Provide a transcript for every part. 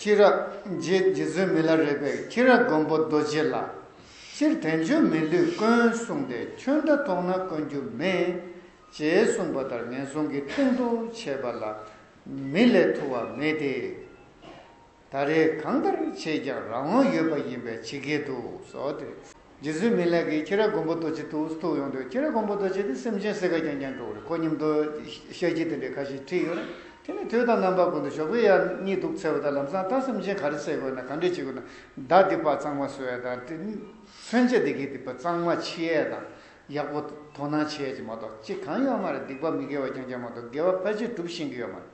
སྐྱེས་རབས་རྗེ་བཙུན་མི་ལ་རས་པའི་ཁྱི་ར་མགོན་པོ་རྡོ་རྗེ་ལ་སྤྱིར་དལ་འབྱོར་མི་ལུས་དཀོན་གསུངས་ཏེ་ཁྱོད་འདྲ་མཐོང་ན་དཀོན་རྒྱུ་མེད། ཅེས་གསུངས་པ་ལྟར་ངན་སོང་གི་སྟེང་དུ་བྱས་པ་ལ་མི་ལས་ཐུ་བ་མེད་དེ། ད་རེས་གང་ལྟར་ཆེས་ཀྱང་རང་དབང་ཡོད་པ་ཡིན་པའི་ཕྱི་རྒྱལ་དུ་སོགས་ཏེ། རྗེ་བཙུན་མི་ལེགས་ཀྱིས་ཁྱི་ར་མགོན་པོ་རྡོ་རྗེ་ཏུ་སྟུག་ཡོང་དུས་ཁྱི་ར་མགོན་པོ་རྡོ་རྗེ་དེ་སེམས་ཅན་སེར་ག་ཀྱང་ཉན་འགྲོ་བ་རེད་ཁོ་སྙམ་དུ་ཤ་ཁྱི་དེ་འདྲའི་ཁ་ཞིག་ཁྲིད་ཡོད་རེད་དེ་ནས་དུས་དང་རྣམ་པ་ཀུན་ཏུ་ཞོགས་པའི་ཡར་སྙིགས་དུག་འཚེར་བ་དང་ལམ་སང་ལྟ་སེམས་ཅན་ག་རེ་བསད་དགོས་ན་ག་འདྲས་བྱེད་དགོས་ན་བདག་འདི་དཔའ་གཙང་མ་བསོད་ཡས་དང་མཚོན་ཆ་འདི་གའི་སྡིག་པ་གཙང་མ་འཆི་ཡས་དང་ཡག་པོ་དོ་སྣང་བྱེད་ཀྱི་མ་གཏོགས་ཅི་གང་ཡོད་མ་རེད་སྡིག་པ་མི་དགེ་བ་རྐྱང་རྐྱང་མ་གཏོགས་དགེ་བ་ཕལ་ཆེར་སྒྲུབ་ཤེས་ཀྱི་ཡོད་མ་རེད་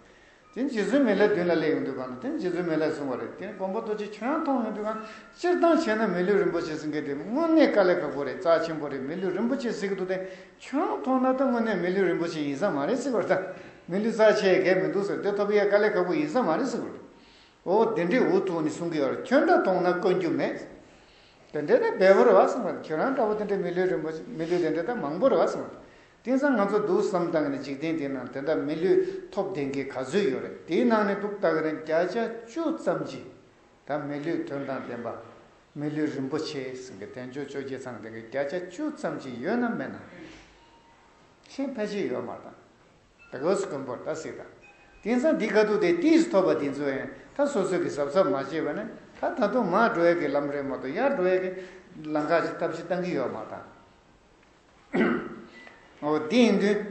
དེ་རྗེ་བཙུན་མི་ལའི་མདུན་ལ་སླེབས་ཡོང་དུས་གང་དུ་དེ་རྗེ་བཙུན་མི་ལས་གསུངས་པ་རེད་དེ་མགོན་པོ་རྡོ་རྗེ་ཁྱོད་རང་མཐོང་ཡོང་དུས་གང་སྤྱིར་བཏང་བྱས་ན་མི་ལུས་རིན་པོ་ཆེ་ཟིན་གི་དེ་དངོས་གནས་དཀའ་ལས་ཁག་པོ་རེད་རྩ་ཆེན་པོ་རེད་མི་ལུས་རིན་པོ་ཆེ་ཟིན་གི་འདུག་དེ་ཁྱོད་རང་མཐོང་ན་ད་དངོས་གནས་མི་ལུས་རིན་པོ་ཆེ་ཡིན་ས་མ་རེད་ཟེར་བར་ད་མི་ལུས་རྩ་ཆེ་གས་མི་འདུག་ཟེར་དེ་ཐོབ་ཡས་དཀའ་ལས་ཁག་པོ་ཡིན་ས་མ་རེད་ཟེར་གི་འདུག་འོ་དེ་འདྲའི་འུ་ཐུག་ནས་གསུང་གི་ཡོད་ཁྱོད་འདྲ་མཐོང་ན་དཀོན་རྒྱུ་མེད་དེ་འདྲས་ད་འབེལ་པོ་རེད་བ་གསུངས་པ་ཁྱོད་རང་འདྲ་པོ་དེ་འདྲས་མི་ལུས་རིན་པོ་ཆེ་མི་ལུས་དེ་འདྲས་ད་མང་པོ་རེད་བ་གསུངས་པ་དེང་སང་ང་ཚོ་འདུག་བསམ་སྟངས་ནི་འཇིག་རྟེན་འདི་ནང་དེ་འདྲ་མི་ལུས་ཐོབ་ལྡན་གྱི་ག་ཚོད་ཡོད་རེད་དེའི་ནང་ནས་ལུག་སྟག་རིང་བརྒྱ་ཆ་བཅུ་ཙམ་གྱིས་ད་མི་ལུས་དོན་དང་ལྡན་པ། མི་ལུས་རིན་པོ་ཆེ་ཟེར་གི་དལ་འབྱོར་བཅོ་བརྒྱད་ཚང་དེ་གི་བརྒྱ་ཆ་བཅུ་ཙམ་གྱིས་ཡོད་ན་མེད་ན། ཤིང་ཕལ་ཆེར་ཡོད་མ་དང། ད་གོས་སུ་གོན་པོར་ད་སྲིད་དང། དེང་སང་འདི་ག་དུག་དེ་ཏིས་སུ་ཐོབ་པ་དེ་ཚོ་ཡང་ད་སོ་སོས་གི་གཟབ་གཟབ་མ་བྱེད་པ་ནི་ད་ད་དུང་མར་འགྲོ་ཡ་གི་ལམ་རེད་མ་ཏོ་ཡར་འགྲོ་ཡ་གི་ལང་ཀ་ཅིག་ལྟ་བྱེད་བཏང་གི་ཡོད་མ་དང། འདི་ཡིན་དུས།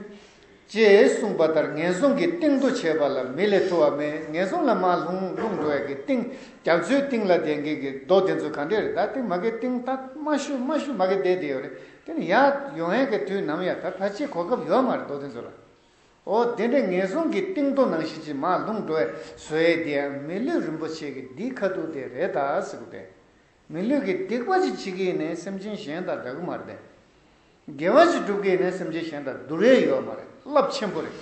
ཅེས་གསུངས་པ་ལྟར་ངན་སོང་གི་གཏིང་དུ་བྱེད་པ་ལ་མི་ལས་ཐུ་བ་མེད་ངན་སོང་ལ་མ་ལྷུང་ལྷུང་འགྲོ་བའི་གི་གཏིང་རྒྱ་མཚོའི་གཏིང་ལ་བསྡད་མཁན་གི་རྡོ་དེ་ཚོ་ག་འདྲས་རེད་ད་ལྟའི་མ་གི་གཏིང་ད་མ་ཤུ་མ་ཤུ་མ་གི་བསྡད་དེ་ཡོད་རེད་དེ་ནི་ཡག་ཡོ་ཧན་གི་དུས་ནམ་ཡ་ད་ད་ཅི་གོ་སྐབས་ཡོད་མ་རེད་རྡོ་དེ་ཚོ་ལ་ཨོ་དེ་འདྲའི་ངན་སོང་གི་གཏིང་དུ་ནང་བཞིན་ཅིག་མ་ལྷུང་འགྲོ་བའི་བཟོ་ཡས་དེ་ཡང་མི་ལུས་རིན་པོ་ཆེ་གི་འདིའི་ཁ་ཐུག་དེ་རེད་ད་ཟེར་གོ་དེ་མི་ལུས་ཀྱི་སྡིག་པ་ཅི་བྱེད་ཀྱིས་ནི་སེམས་ཅན་གཞན་དང་འདྲ་གི་མ་རེད། དགེ་བ་ཅི་སྒྲུབ་ཀྱིས་ནི་སེམས་ཅན་གཞན་དང་འདུ་རེ་ཡོད་མ་རེད་རླབས་ཆེན་པོ་རེད།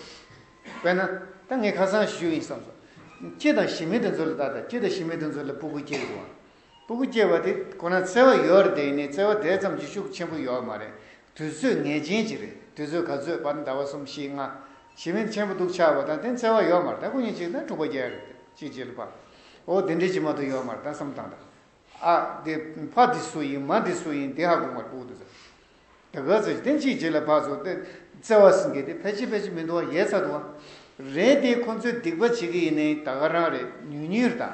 དཔེར་ན། ད་ངས་ཁ་སང་ཞུས་ཡིན་བསམ་སོང། ཁྱི་དང་ཞི་མི་དེ་ཚོ་ལ་ལྟ་དང་ཁྱི་དང་ཞི་མི་དེ་ཚོ་ལ་སྤུ་གུ་སྐྱེས་ཡོང། སྤུ་གུ་སྐྱེས་པ་དེ་ཁོ་ན་བརྩེ་བ་ཡོད་རེད་དེ་ནི་བརྩེ་བ་དེ་ཙམ་གྱི་ཤུགས་ཆེན་པོ་ཡོད་མ་རེད་དུས་ཚོད་ངེས་ཅན་གྱི་རེད་དུས་ཚོད་ག་ཚོད་བར་ཟླ་བ་གསུམ་བཞི་ལྔ། ཞེ་མེད་ཆེན་པོ་འདུག་ཆར་བ་དང་དེ་འཚེ་བ་ཡོད་མར་ད་སྐུ་ཉིད་གཅིག་དང་དྲུག་པ་བརྒྱད་རེད་དེ་གཅིག་བྱེད་ལུགས་པ། འོ་དེ་འདྲའི་ཇི་མ་དུ་ཡོད་མར་ད་བསམ་དང་ད། ཨ། དེ་ཕ་འདི་སུ་ཡིན་མ་འདི་སུ་ཡིན་དེ་ཧ་གོ་མར་ཨུ་དུ་ཟེར། ད་ག་ཚོད་བྱེད་དེ་གཅིག་བྱེད་ལ་བག་ཚོ་དེ། བརྩེ་བ་སེང་གེ་དེ་ཕལ་ཆེར་ཕལ་ཆེར་མི་འདུག་བ་ཡས་ཚ་འདུག་བ། རེད་དེ་ཁོ་ཚོས་སྡིག་པ་བྱེད་ཀི་ཡིན་ནའི་ད་ག་རང་རེད་ཉུལ་ཉུལ་དང།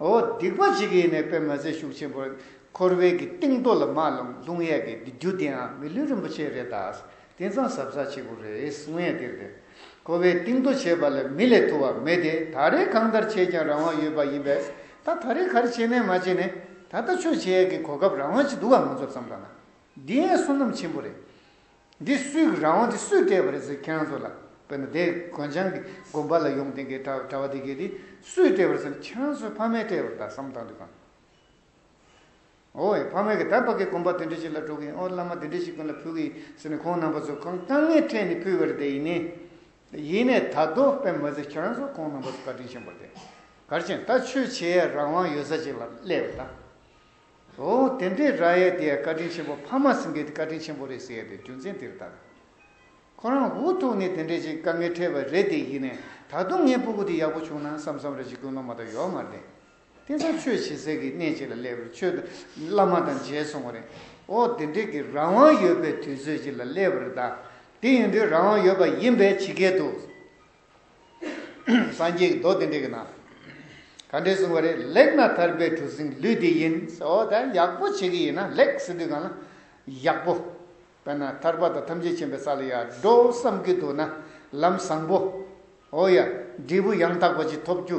འོ་སྡིག་པ་ཞིག་གིས་ནས་པད་མ་ཟས་ཤུགས་ཆེན་པོ་འཁོར་བའི་གི་སྟེང་རྡོ་ལ་མ་ལོངས་ལྷུང་ཡས་གི་འདི་རྒྱུ་དེའང་མི་ལུས་རིན་པོ་ཆེ་རེད་ད་དེ་ཚང་ཟབ་ས་ཆེ་པོ་རེད་གསུང་ཡས་དེར་དེ་འཁོར་བའི་སྟེང་རྡོ་བྱས་པ་ལ་མི་ལས་ཐུ་བ་མེད་དེ་ད་རེས་གང་ལྟར་བྱས་ཀྱང་རང་དབང་ཡོད་པ་ཡིན་པས་ད་ད་རེས་གར་བྱས་ནས་མ་བྱས་ནས་ད་ལྟ་ཆོས་བྱེད་ཡས་གི་གོ་སྐབས་རང་དབང་ཅིག་འདུག་ག་ང་ཚོར་བསམ་ད་ན་འདི་ཡས་བསོད་ནམས་ཆེན་པོ་རེད། འདི་སུས་ཀྱི་རང་དབང་དེ་སུས་སྤྲད་པ་རེད་ཟེར་ཁྱེད་རང་ཚོ་ལ་དཔེར་ན་དེ་གོན་ཆང་གི་དགོན་པ་ལ་ཡོང་དེ་གའི་གྲྭ་བ་དེ་གའི་དེ་སུས་སྤྲད་པ་རེད་ཟེར་ན་ཁྱེད་རང་ཚོའི་ཕ་མས་སྤྲད་པར་ད་བསམ་བཏང་དུས་གང། འོ་ཡ་ཕ་མས་གི་ད་པ་གའི་དགོན་པ་དེ་འདྲ་ཞིག་ལ་འགྲོ་གི་ཡིན་ཨོ་བླ་མ་དེ་འདྲ་ཞིག་ཀུན་ལ་ཕུལ་གི་ཡིན་ཟེར་ནས་ཁོང་རྣམ་པ་ཚོ་ཁང་དཀའ་ངལ་འཕྲད་ནས་ཕུལ་བ་རེད་དེ་ཡིན་ནས་ཡིན་ནས་ད་དོ་པེ་མ་ཟེར་ཁྱེད་རང་ཚོ་ཁོང་རྣམ་པ་ཚོ་བཀའ་དྲིན་ཆེན་པོ་རེད་དེ་གར་ཕྱིན་ད་ཆོས་བྱེད་ཡ་རང་དབང་ཡོད་ས་ཅིག་ལ་སླེབས་དང། ཨོ། དེ་འདྲའི་ར་ཡའི་དེ་བཀའ་དྲིན་ཆེན་པོ་ཕ་མ་སེང་གེ་དེ་བཀའ་དྲིན་ཆེན་པོ་རེད་ཟེར་ཡས་པའི་རྒྱུ་མཚན་དེར་བརྟག། ཁོ་རང་འུ་ཐུག་ནས་དེ་འདྲའི་ཞིག་དཀའ་ངལ་འཕྲད་པ་རེད་དེ་ཡིན་ནས་ད་དུང་ངའི་སྤུ་གུ་དེ་ཡག་པོ་བྱུང་ན་བསམ་བསམ་རེ་བྱེད་ཀུན་སློང་མ་དང་ཡོག་མར་བསྡད། དེ་ཚོ་ཆོས་བྱེད་ཟེར་གི་གནས་གཅིག་ལ་སླེབས་པར་ཆོས་བླ་མ་དང་མཇལ་སོང་བ་རེད། ཨོ་དེ་འདྲའི་གི་རང་དབང་ཡོད་པའི་དུས་ཚོད་ཅིག་ལ་སླེབས་པར་གདའ། དེ་ཡིན་དུས་རང་དབང་ཡོད་པ་ཡིན་པས་ཇི་སྐད་དུ། སངས་རྒྱས་ཀྱི་མདོ་དེ་འདྲི་གི་ན། ག་འདྲས་གསུངས་པ་རེད་ལེགས་ན་ཐར་པའི་གྲུ་གཟིངས་ལུས་འདི་ཡིན། ཨོ་ད་ཡག་པོ་བྱེད་ཀྱི་ཡིན་ན་ལེགས་སེ་དུས་གང་ན་ཡག་པོ། དཔེར་ན་ཐར་པ་དང་ཐམས་ཅད་མཁྱེན་པའི་ས་ལ་ཡར་འགྲོ་བསམ་གྱི་འདུག་ན་ལམ་བཟང་པོ། ཨོ་ཡ། འབྲས་བུ་ཡང་དག་པ་ཅིག་ཐོབ་རྒྱུ་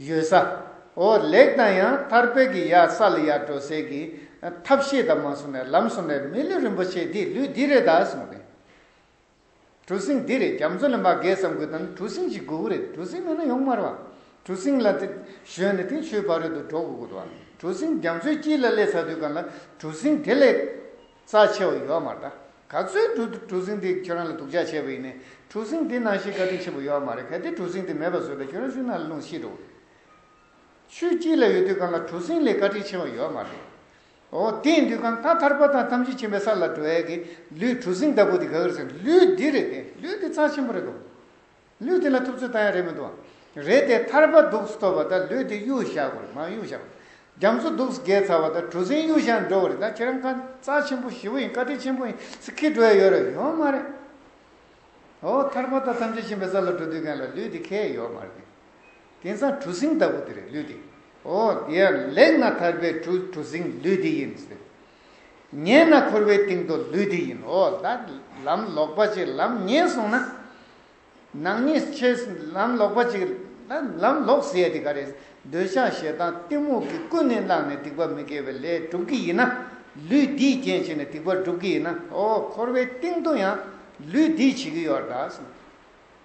ཡོད་ས། ཨོ་ལེགས་ན་ཡང་ཐར་པའི་གི་ཡ་ས་ལ་ཡར་འགྲོ་སའི་གི་ཐབས་ཤེས་དང་མ་གསུངས་ནས་ལམ་གསུངས་ནས་མི་ལུས་རིན་པོ་ཆེ་འདི་ལུས་འདི་རེད་ད་གསུངས་ནས། གྲུ་གཟིངས་འདི་རེ་རྒྱ་མཚོ་ལས་མ་བརྒལ་ཙམ་དགོས་དོན་གྲུ་གཟིངས་ཤིག་དགོས་གོ་རེད་གྲུ་གཟིངས་མེད་ན་ཡོང་དམར་བ་གྲུ་གཟིངས་ལ་བཞོན་ནས་དེང་ཆུའི་ཕ་རོལ་དུ་འགྲོ་དགོས་གོ་གྲུ་གཟིངས་རྒྱ་མཚོའི་དཀྱིལ་ལ་སླེབས་ཚར་དུས་གང་ལ་གྲུ་གཟིངས་དེ་ལས་རྩ་ཆེ་བ་ཡོད་མ་རེད་ད་ག་ཚོད་གྲུ་གཟིངས་དེ་ཁྱོད་རང་ལ་སྡུག་ཅག་བྱས་པ་ཡིན་ནས་གྲུ་གཟིངས་དེ་ནང་ཞིག་བཀའ་དྲིན་ཆེན་པོ་ཡོད་མ་རེད་གལ་ཏེ་གྲུ་གཟིངས་དེ་མེད་པ་བཟོས་ན་ཁྱོད་རང་ཆུ་ནང་ལ་ལྷུང་ཤི་འགྲོ་གོ་རེད་ཆུའི་དཀྱིལ་ལ་ཡོད་དུས་གང་ལ་གྲུ་གཟིངས་ལས་བཀའ་དྲིན་ཆེ་བ་ཡོད་མ་རེད་འོ་དེས་འདུས་ཁམས་ཐ་ཐར་པ་དང་ཐམས་ཅད་མཁྱེན་པའི་ས་ལ་འགྲོ་བས་ཀྱི་ལུས་གྲུ་གཟིངས་ལྟ་བུ་དེ་ག་གིར་ཟེར། ལུས་འདི་རེད་དེ་ལུས་འདི་རྩ་ཆེན་པོ་རེད་དོ། ལུས་འདི་ལ་ཐུབ་ཚོད་ལྟ་ཡ་རེད་མི་འདུག་བ། རེད་དེ་ཐར་པ་གདུགས་སུ་ཐོབ་པ་དང་ལུས་འདི་གཡུག་བཞག་གོ་རེ་མ་གཡུག་བཞག་གོ། རྒྱ་མཚོ་གདུགས་སུ་བརྒལ་ཚར་བ་དང་གྲུ་གཟིངས་གཡུག་བཞག་ནས་འགྲོ་གོ་རེ་ད་ཁྱེད་རང་ཁ་རྩ་ཆེན་པོ་ཞི་བོ་ཡིན་བཀའ་དྲིན་ཆེན་པོ་ཡིན་ཟེར་ཁིར་འགྲོ་ཡ་ཡོད་རེད་ཡོད་མ་རེད། འོ་ཐར་པ་དང་ཐམས་ཅད་མཁྱེན་པའི་ས་ལ་འགྲོ་འདོད་མཁན་ལ་ལུས་འདི་ཁེལ་ཡོད་མ་རེད། དེང་སང་གྲུ་གཟིངས་ལྟ་བུ་དེ་རེད་ལུས་འདི། ཨོ། དེ་ཡར་ལེགས་ན་ཐར་པའི་གྲུ་གྲུ་གཟིངས་ལུས་འདི་ཡིན། ཉལ་ན་འཁོར་བའི་གཏིང་རྡོ་ལུས་འདི་ཡིན། ཨོ་ལ། ལམ་ལོག་པ་ཅིག་ལམ་ཉེས་སོང་ན། ནག་ཉེས་ཆེ། ལམ་ལོག་པ་ཅིག་ལམ་ལོག་ཟེར་ཡ་དེ་ག་རེད། འདོད་ཆགས་ཞེ་སྡང་གཏི་མུག་གིས་ཀུན་ནས་བསླངས་ནས་སྡིག་པ་མི་དགེ་བའི་ལས་སྒྲུབ་ཀྱི་ཡིན་ན། ལུས་འདིས་རྐྱེན་བྱས་ནས་སྡིག་པ་སྒྲུབ་ཀྱི་ཡིན་ན། ཨོ། འཁོར་བའི་གཏིང་རྡོ་ཡང་ལུས་འདིས་བྱེད་ཀྱི་ཡོད།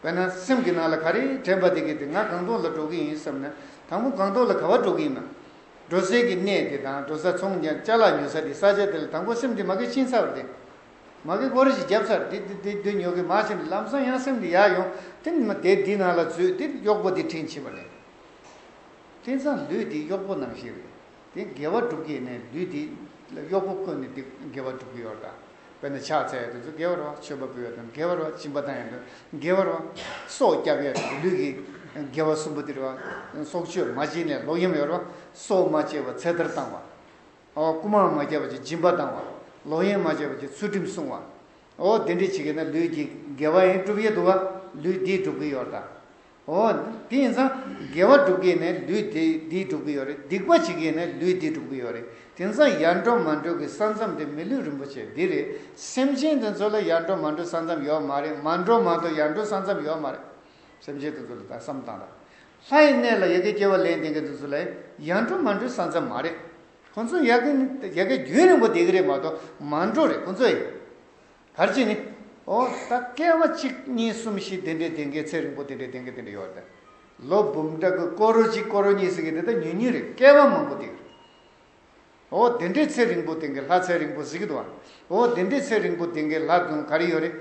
དཔེར་ན་སེམས་ཀྱི་ནང་ལ་ག་རེ་དྲན་པ་དེ་གིས་དེ་ང་གང་ཐོག་ལ་འགྲོ་གི་ཡིན་བསམ་ན་དང་པོ་གང་ཐོག་ལ་ག་བ་འགྲོ་གི་ཡིན་ནམ། འགྲོ་སའི་གི་གནས་དེ་དང་འགྲོ་ས་ཚོང་ཀྱང་བཅའ་ལག་ཉོ་ས་དེ་ས་ཆ་དེ་ལ་དང་པོ་སེམས་དེ་མ་གི་ཕྱིན་ཚར་བ་དེ། མ་གི་སྐོར་ཞིག་བརྒྱབ་ཚར་དེ་དེ་དེ་ཉོ་གི་མ་ཕྱིན་ཏེ་ལམ་སང་ཡང་སེམས་དེ་ཡར་ཡོང་དེ་མ་དེ་དེ་ནང་ལ་འཛུལ་དེ་གཡོག་པོ་དེ་དྲིན་ཆེ་བ་རེད། དེ་ཚང་ལུས་དེ་གཡོག་པོ་ནང་བཞིན་རེད་དེ་འགལ་བ་སྒྲུབ་ཀྱི་ནས་ལུས་དེ་ལ་གཡོག་པོ་བཀོད་ནས་དེ་འགལ་བ་སྒྲུབ་ཀྱི་ཡོད་རྟ། བས་ན་ཕྱག་འཚལ་བསྟོད་ཚུལ་དགེ་བར་བ་མཆོད་པ་འབུལ་བ་དང་དགེ་བར་བ་བྱིན་པ་དང་ཡང་དག་དགེ་བར་བ་སོགས་སྐྱབས་གཡས་དང་ལུས་ཀྱི་དགེ་བ་གསུམ་པོ་འདིར་བ་སོགས་བཅོས་མ་བྱིན་ནས་ལོག་གཡེམ་ཡོར་བ་སོགས་མ་བྱས་བར་ཚེ་ཐར་བཏང་བའོ། རྐུ་མ་མ་བརྒྱབ་པ་བཅས་སྦྱིན་པ་བཏང་བ། ལོག་གཡེམ་མ་བྱས་པ་བཅས་ཚུལ་ཁྲིམས་བསྲུང་བའོ། དེ་འདྲའི་བྱེད་ཀྱི་ན་ལུས་ཀྱི་དགེ་བ་ཡིན་བསྒྲུབ་ཡས་འདུག་བ་ལུས་འདིས་བསྒྲུབ་ཀྱི་ཡོར་དང། ཨོ། དེ་ཡིན་ཙང་དགེ་བ་སྒྲུབ་མཁན་ནི་ལུས་འདི་སྒྲུབ་ཀྱི་ཡོད་རེད་སྡིག་པ་བྱེད་མཁན་ནི་ལུས་འདི་སྒྲུབ་ཀྱི་ཡོད་རེད་དེ་ཙང་ཡར་འགྲོ་མར་འགྲོ་གི་ས་མཚམས་དེ་མི་ལུས་རིན་པོ་ཆེ་འདི་རེད་སེམས་ཅན་དེ་ཚོ་ལ་ཡར་འགྲོ་མར་འགྲོ་ས་མཚམས་ཡོད་མ་རེད་མར་འགྲོ་མར་འགྲོ་ཡར་འགྲོ་ས་མཚམས་ཡོད་མ་རེད་སེམས་ཅན་དེ་ཚོ་ལ་ད་བསམ་བཏང་ད་ལྷའི་གནས་ལ་ཡ་གི་སྐྱེ་བ་ལེན་བསྡད་མཁན་དེ་ཚོ་ལ་ཡར་འགྲོ་མར་འགྲོའི་ས་མཚམས་མ་རེད་ཁོང་ཚོ་ཡ་གི་རྒྱུན་རིང་པོ་བསྡད་ཀྱི་རེད་མ་གཏོགས་མར་འགྲོ་རེད་ཁོང་ཚོ་ཡ། བར་གྱིས་ནི། འོ་ད་སྐལ་བ་གཅིག་གཉིས་གསུམ་བཞི་དེ་འདྲའི་དེ་འདྲའི་ཚེ་རིང་པོ་དེ་འདྲའི་དེ་འདྲའི་དེ་འདྲའི་ཡོད་དེ། ལོ་འབུམ་ཕྲག་གི་སྐོར་རོ་གཅིག་སྐོར་རོ་གཉིས་ཟེར་གི་དེ་ད་ཉུང་ཉུང་རེད་སྐལ་བ་མང་པོ་དེ། འོ་དེ་འདྲའི་ཚེ་རིང་པོ་དེ་གའི་ལྷ་ཚེ་རིང་པོ་ཟིག་གི་འདུག་ཨ། འོ་དེ་འདྲའི་ཚེ་རིང་པོ་དེ་གའི་ལྷ་དུང་ག་རེ་ཡོད་རེད།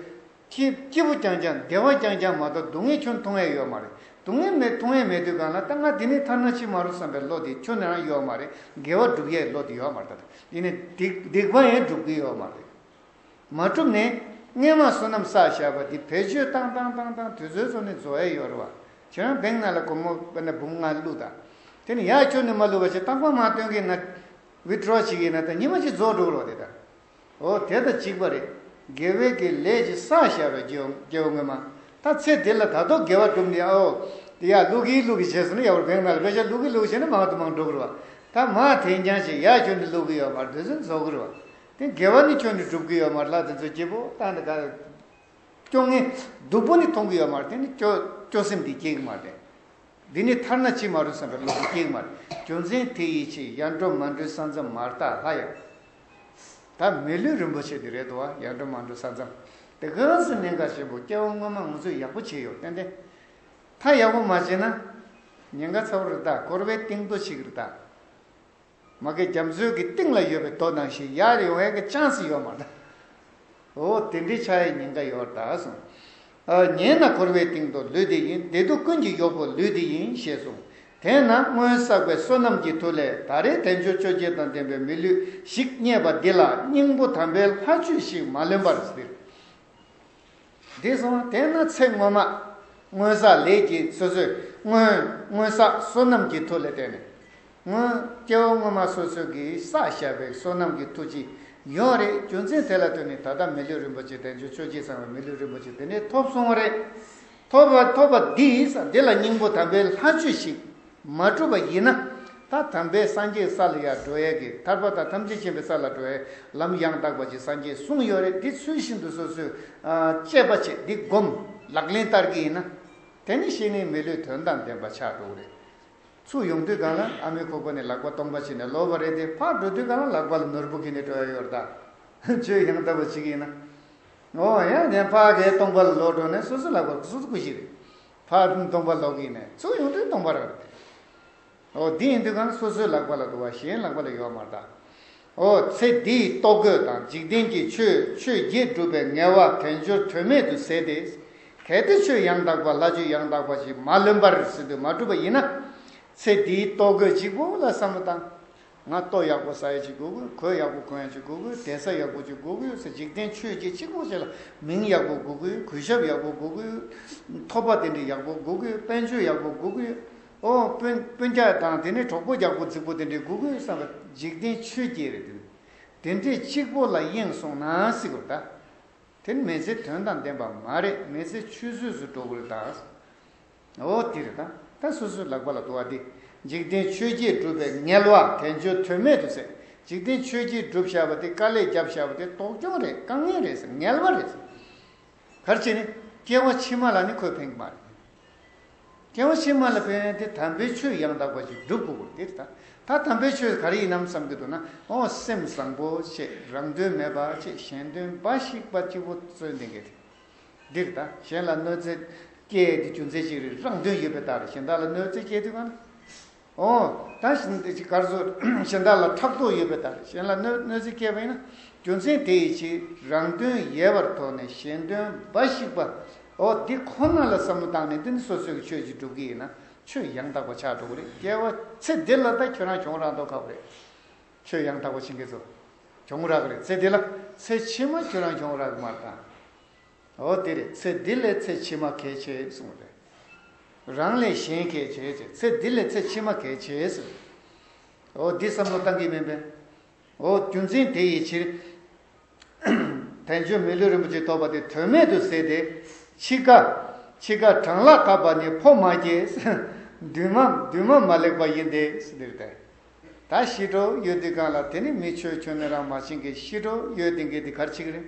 ཁྱི་སྐྱིད་པོ་རྐྱང་རྐྱང་བདེ་བ་རྐྱང་རྐྱང་མ་གཏོགས་སྡུག་བསྔལ་ཁྱོད་མཐོང་ཡས་ཡོད་མ་རེད་སྡུག་བསྔལ་མེད་མཐོང་ཡས་མེད་དུས་གང་ལ་ད་ང་དེ་ནས་ཐར་ན་ཅི་མ་རུང་བསམ་པའི་བློ་དེ་ཁྱོད་ནས་རང་ཡོད་མ་རེད་དགེ་བ་བསྒྲུབ་ཡས་བློ་དེ་ཡོད་མ་རེད་ད་ཡིན་ནས་སྡིག་པ་ཡང་བསྒྲུབ་གི་ཡོད་མ་རེད། མ་གྲུབ་ནས། སྔས་མ་བསོད་ནམས་བསགས་བཞག་པ་འདི་བེད་སྤྱོད་བཏང་བཏང་བཏང་བཏང་དུས་ཚོད་ཚོ་ནི་རྫོ་ཨེ་ཡོད་རོ། ཁྱོད་རང་བེང་ན་ལ་གོ་མོ་བེ་ན་བུམ་ང་བླུག་ད། དེ་ནི་ཡག་ཁྱོད་ནི་མ་བླུག་བ་ཆེ་རྟག་པ་མ་སྟོན་གི་ན། Withdraw བྱེད་ཀྱི་ན་ད་ཉི་མ་གཅིག་རྫོགས་འགྲོ་གི་རོགས་དེ་ད། འོ་དེ་ད་གཅིག་པ་རེད། དགེ་བའི་གི་ལས་ཀྱི་བསགས་བཞག་པའི་རྒྱུ་སྐྱེ་བོ་སྔོན་མ། ད་ཚེ་འདི་ལ་ད་གཏོགས་དགེ་བ་གྲུབ་འདི་ཨོ། འདི་ཡག་བླུག་གི་བླུག་གི་བྱས་སོང་ན་ཡག་པོ་བེང་ན་ལ་བེད་སྤྱད་བླུག་གི་བླུག་བྱས་ན་མང་དུ་མང་འགྲོ་གི་རོ། ད་མ་དེ་འགྱངས་བྱས་ཡག་ཁྱོད་ནི་བླུག་གི་ཡོད་པར་དུས་ཚོད་རྫོགས་གི་རོ། དེ་དགེ་བ་ནི་ཁྱོད་ནི་སྒྲུབ་ཀྱི་ཡོད་མ་རེད་ལ་དེ་ཚོ་སྐྱིད་པོ་བཏང་ནས་དགའ། སྐྱོ་ངེ། སྡུག་པོ་ནི་མཐོང་གི་ཡོད་མ་རེད་དེ་ནི་སྐྱོ། སྐྱོ་སེམས་དེ་སྐྱེ་གི་མ་རེད། འདི་ནི་ཐར་ན་ཅི་མ་རུང་བསམ་པའི་བློ་དེ་སྐྱེ་གི་མ་རེད། རྒྱུ་མཚན་དེ་ཡིད་ཆེས་ཡར་འགྲོ་མར་འགྲོའི་ས་མཚམས་མར་བཏགས་སླ་ཡང། ད་མི་ལུས་རིན་པོ་ཆེ་འདི་རེད་འདུག་ཨ་ཡར་འགྲོ་མར་འགྲོ་ས་མཚམས་དེ་གང་སྲིད་གནད་འགག་ཆེན་པོ་སྐྱེ་བ་སྔོན་མ་ང་ཚོས་ཡག་པོ་བྱས་ཡོད་ཏན་ཏན། མཐའ་ཡག་པོ་མ་བྱས་ན། ཉེན་ཁ་ཚ་བོ་རེ་ད་འཁོར་བའི་གཏིང་རྡོ་ཆེ་གི་རེ་ད། མ་གི་རྒྱ་མཚོའི་གི་སྟེང་ལ་ཡོད་པའི་དོ་དང་ཞིག་ཡར་ཡོང་བའི་གི་ཅང་སི་ཡོ་མ་ད། ཨོ་དེ་འདྲའི་ཆ་ཡི་ཉིན་ག་ཡོར་ད་གསུང། ཨ་ཉེས་ན་འཁོར་བའི་སྟེང་དུ་ལུས་འདི་ཡིན་བདེ་སྡུག་ཀུན་གྱི་ཡོ་བུ་ལུས་འདི་ཡིན་ཞེས་གསུང། དེས་ན་སྔོན་བསགས་པའི་བསོད་ནམས་ཀྱི་མཐུ་ལས་ད་རེས་དལ་འབྱོར་ཆོས་བརྒྱད་དང་ལྡན་པའི་མི་ལུས་ཞིག་རྙེད་པ་འདི་ལ་སྙིང་པོ་དམ་པའི་ལྷ་ཆོས་ཤིག་མ་ལོན་པར་ཟིལ། འདི་བཟུང་བསྟེན་ན་ཚེ་སྔོན་མ། སྔོན་བསགས་ལས་ཀྱི་སོ་སོའི་སྔོན། སྔོན་བསགས་བསོད་ནམས་ཀྱི་མཐུ་ལས་བརྟེན་ནས། སྔོན་སྐྱེ་བོ་སྔོན་མ་སོ་སོའི་གིས་བསགས་བྱས་པའི་བསོད་ནམས་ཀྱི་མཐུ་ཅི་ཡོང་རེད་རྒྱུ་མཚན་དེ་ལ་ལྟོས་ནས་ད་ལྟ་མི་ལུས་རིན་པོ་ཆེ་བསྟན་བཅོས་ཆོས་རྗེ་ཚང་བའི་མི་ལུས་རིན་པོ་ཆེ་དེ་འདྲས་ཐོབ་སོང་བ་རེད། ཐོབ་པ་ཐོབ་པ་འདིས་འདི་ལ་སྙིང་པོ་དམ་པའི་ལྷ་ཆོས་ཤིག། མ་གྲུབ་པ་ཡིན་ན། ད་དམ་པའི་སངས་རྒྱས་ས་ལ་ཡང་འགྲོ་ཡས་ཀྱི་ཐར་པ་དང་ཐམས་ཅད་མཁྱེན་པའི་ས་ལ་འགྲོ་ཡས་ལམ་ཡང་དག་པ་ཅིག་སངས་རྒྱས་གསུངས་ཡོད་རེད་འདི་ཚུལ་བཞིན་དུ་སོ་སོས་དཔྱད་པ་བྱས་འདི་བསྒོམ་ལག་ལེན་བསྟར་གྱི་ཡིན་ན། དེ་ནི་ཤེས་ནི་མི་ལུས་དོན་དང་ལྡན་པ་ཆགས་འགྲོ་གི་རེད། ཚུར་ཡོང་དུས་གང་ལ་ཨ་མའི་ཁོག་པ་ནས་ལག་པ་སྟོང་པ་བྱིན་ནས་ལོག་པ་རེད་དེ་ཕར་འགྲོ་དུས་གང་ལ་ལག་པ་ལ་ནོར་བུ་འཁྱིལ་ནས་འགྲོ་ཡ་ཡོད་རེད་ད། བཅོས་ཡང་དག་པ་བྱེད་ཀྱི་ཡིན་ན། འོ་ཡ་དེ་ཕ་གས་སྟོང་པ་ལ་ལོག་འགྲོ་ནས་སོ་སོའི་ལག་པར་སོ་སོ་སྐུ་གཞི་རེད། ཕར་ཕྱིན་སྟོང་པ་ལོག་གི་ནས་གཙོ་ཡོངས་གྲོལ་སྟོང་པར་འོ། འདི་ཡིན་དུས་གང་སོ་སོའི་ལག་པ་ལ་འདུ་བ་གཞན་ལག་པ་ལ་ཡོད་མ་གདའ་འོ། ཚེ་འདིའི་ལྟོ་གོས་དང་འཇིག་རྟེན་གྱི་ཆོས་ཆོས་བརྒྱད་སྒྲུབ་པའི་ངལ་བ་དལ་འབྱོར་དོན་མེད་དུ་ཟད་དེ། གལ་ཏེ་ཆོས་ཡང་དག་པ་ལྷ་ཆོས་ཡང་དག་པ་ཞིག་མ་ལོན་པར་ཟིན་དུ་མ་གྲུབ་པ་ཡིན་ན། ཚེ་འདིའི་ལྟོ་གོས་གཅིག་པོ་ལ་བསམ་བློ་བཏང། ང་ལྟོ་ཡག་པོ་ཟ་ཡ་གཅིག་དགོས་དགོས་གོས་ཡག་པོ་གོན་ཡ་གཅིག་དགོས་དགོས་གདན་ས་ཡག་པོ་གཅིག་དགོས་དགོས་ཟེར་འཇིག་རྟེན་ཆོས་བརྒྱད་གཅིག་ལོག་བྱས་ལ་མིང་ཡག་པོ་དགོས་དགོས་གུས་ཞབས་ཡག་པོ་དགོས་དགོས་ཐོབ་པ་དེ་འདྲི་ཡག་པོ་དགོས་དགོས་དཔལ་འབྱོར་ཡག་པོ་དགོས་དགོས་ཨོ་དཔོན་དཔོན་རྒྱ་དང་དེ་ནས་གྲོགས་པོ་རྒྱག་པོ་རྫིག་པོ་དེ་འདྲི་དགོས་དགོས་བསམ་པ་འཇིག་རྟེན་ཆོས་བརྒྱད་རེད་དེ་དེ་འདྲི་གཅིག་པོ་ལ་གཡེངས་སོང་ན་སྲིད་གོ་ད་དེར་མེ་ཚེ་དོན་དང་ལྡན་པ་མ་རེད་མེ་ཚེ་ཆུད་ཟོས་སུ་འགྲོ་དགོས་རེད་ད། འོ་དེ་རེད་ད། ད་སོ་སོའི་ལག་པ་ལ་དུ་བ་འདི། འཇིག་རྟེན་ཆོས་རྗེས་སྒྲུབ་པའི་ངལ་བ་དལ་འབྱོར་དོན་མེད་དུ་ཟད། འཇིག་རྟེན་ཆོས་རྗེས་སྒྲུབ་བཞག་པ་དེ་དཀའ་ལས་བརྒྱབ་བཞག་པ་དེ་དོགས་སྐྱོང་རེད་དཀའ་ངལ་རེད་ཟེར་ངལ་བ་རེད་ཟེར། གལ་ཆེ་ནི། སྐྱེ་བ་ཕྱི་མ་ལ་ནི་ཁོས་ཕན་གྱི་མ་རེད། སྐྱེ་བ་ཕྱི་མ་ལ་ཕན་དེ་དམ་པའི་ཆོས་ཡང་དག་པ་ཞིག་སྒྲུབ་དགོས་དགོས་དེ་རེད་ད། ད་དམ་པའི་ཆོས་ག་རེ་ཡིན་ནམ་བསམ་གྱི་འདུག་ན། ཨོ་སེམས་བཟང་པོ་ཁྱེད་རང་དོན་མེད་པ་ཁྱེད་གཞན་དོན་འབའ་ཞིག་པ་གཅིག་པོ་བརྩོན་ལྡན་གྱི་རེད། འདིར་དང་གཞན་ལ་གནོད་འཚེ་སྐྱེལ་ཡས་དུས་རྒྱུ་མཚན་ཞིག་རིགས་རང་དོན་ཡོད་པའི་རྟགས་རེད་གཞན་དག་ལ་གནོད་འཚེ་སྐྱེལ་དུས་གང་ཨོ། དང་གཞན་དག་གར་སོ། གཞན་དག་ལ་ཕྲག་དོག་ཡོད་པའི་རྟགས་རེད་གཞན་ལ་གནོད་གནོད་འཚེ་སྐྱེལ་བ་ཡིན་ན་རྒྱུ་མཚན་དེ་ཡི་ཕྱིར་རང་དོན་ཡལ་བར་དོགས་ནས་གཞན་དོན་འབའ་ཞིག་པ་ཨོ་འདི་ཁོ་ན་ལ་བསམ་བློ་བཏང་ནས་འདི་ནི་སོ་སོའི་གི་ཆོས་ཅིག་སྒྲུབ་གི་ཡིན་ན་ཆོས་ཡང་དག་པ་ཆགས་འགྲོ་གི་རེད་སྐྱལ་བ་ཚེ་འདི་ལ་ད་ཁྱོད་རང་གྱོང་རང་དོགས་ཁག་པོ་རེད། ཁྱོད་ཡང་དག་པ་བྱིན་གྱིས་རྫོགས། གྱོང་རག་ལས་ཚེ་འདི་ལ་ཚེ་ཕྱི་མ་ཁྱོད་རང་གྱོང་རག་མར་དང། འོ་དེ་ལས་ཚེ་འདི་ལས་ཚེ་ཕྱི་མ་གལ་ཆེ་གསུངས་པས། རང་ལས་གཞན་གལ་ཆེ་ཆེ་ཚེ་འདི་ལས་ཚེ་ཕྱི་མ་གལ་ཆེ་ཟེར། འོ་འདི་བསམ་བློ་བཏང་གིས་མིན་པས། འོ་རྒྱུ་མཚན་དེ་ཡི་ཕྱིར། དེང་ཆོས་མི་ལུས་རིན་པོ་ཆེ་ཐོབ་པ་དེ་དོན་མེད་དུ་ཟད་དེ། འཆི་ཁ། འཆི་ཁ་བགྲང་ལག་ཐབས་པ་ནི་ཕོ་མ་སྐྱེས། འདུན་མ་འདུན་མ་མ་ལེགས་པ་ཡིན་ཏེ། འདིར་དེ་ད་ཤི་དྲོ་ཡོད་འདི་གང་ལ་དེ་ནི་མི་ཆོས་ཁྱོད་ནི་རང་མ་ཕྱིན་གི་ཤི་དྲོ་ཡོད་འདི་འགས་འདི་གར་འཆི་གི་རེད།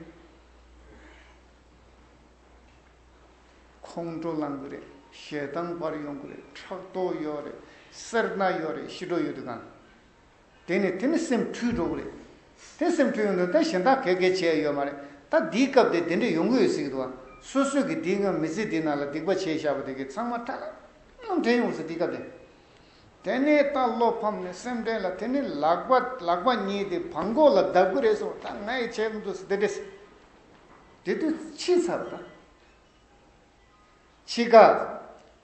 ཁོང་ཁྲོ་ལང་གི་རེད་ཞེ་སྡང་བར་ཡོང་གི་རེད་ཕྲག་དོག་ཡོད་རེད་སེར་སྣ་ཡོད་རེད་ཤི་དྲོ་ཡོད་འདི་གང་ལ། དེ་ནི་དེ་ནི་སེམས་འཁྲུལ་འགྲོ་གི་རེད། དེ་སེམས་འཁྲུལ་ཡོང་དོན་ད་གཞན་དག་གས་གས་བྱས་ཡོད་མ་རེད་ད་འདིའི་སྐབས་དེ་དེ་འདྲས་ཡོང་གི་ཡོད་ཟེར་གི་འདུག་ཨ་སོ་སོས་གི་འདིའི་སྔོན་མི་ཚེ་འདིའི་ནང་ལ་སྡིག་པ་བྱས་བཞག་པ་དེ་གི་ཚང་མ་ཁྲ་ལམ་ལམ་དྲན་ཡོང་ཟེར་འདིའི་སྐབས་དེ། དེ་ནས་ད་བློ་ཕམ་ནས་སེམས་དྲན་ལ་དེ་ནི་ལག་པ་ལག་པ་གཉིས་དེ་བང་ཁོག་ལ་བརྡབ་གི་རེད་སོང་ད་ང་ཡི་བྱས་མི་འདུག་ཟེར་དེ་འདྲས་དེ་དུས་ཕྱི་ཚར་བ་དང། ཕྱི་དགའ།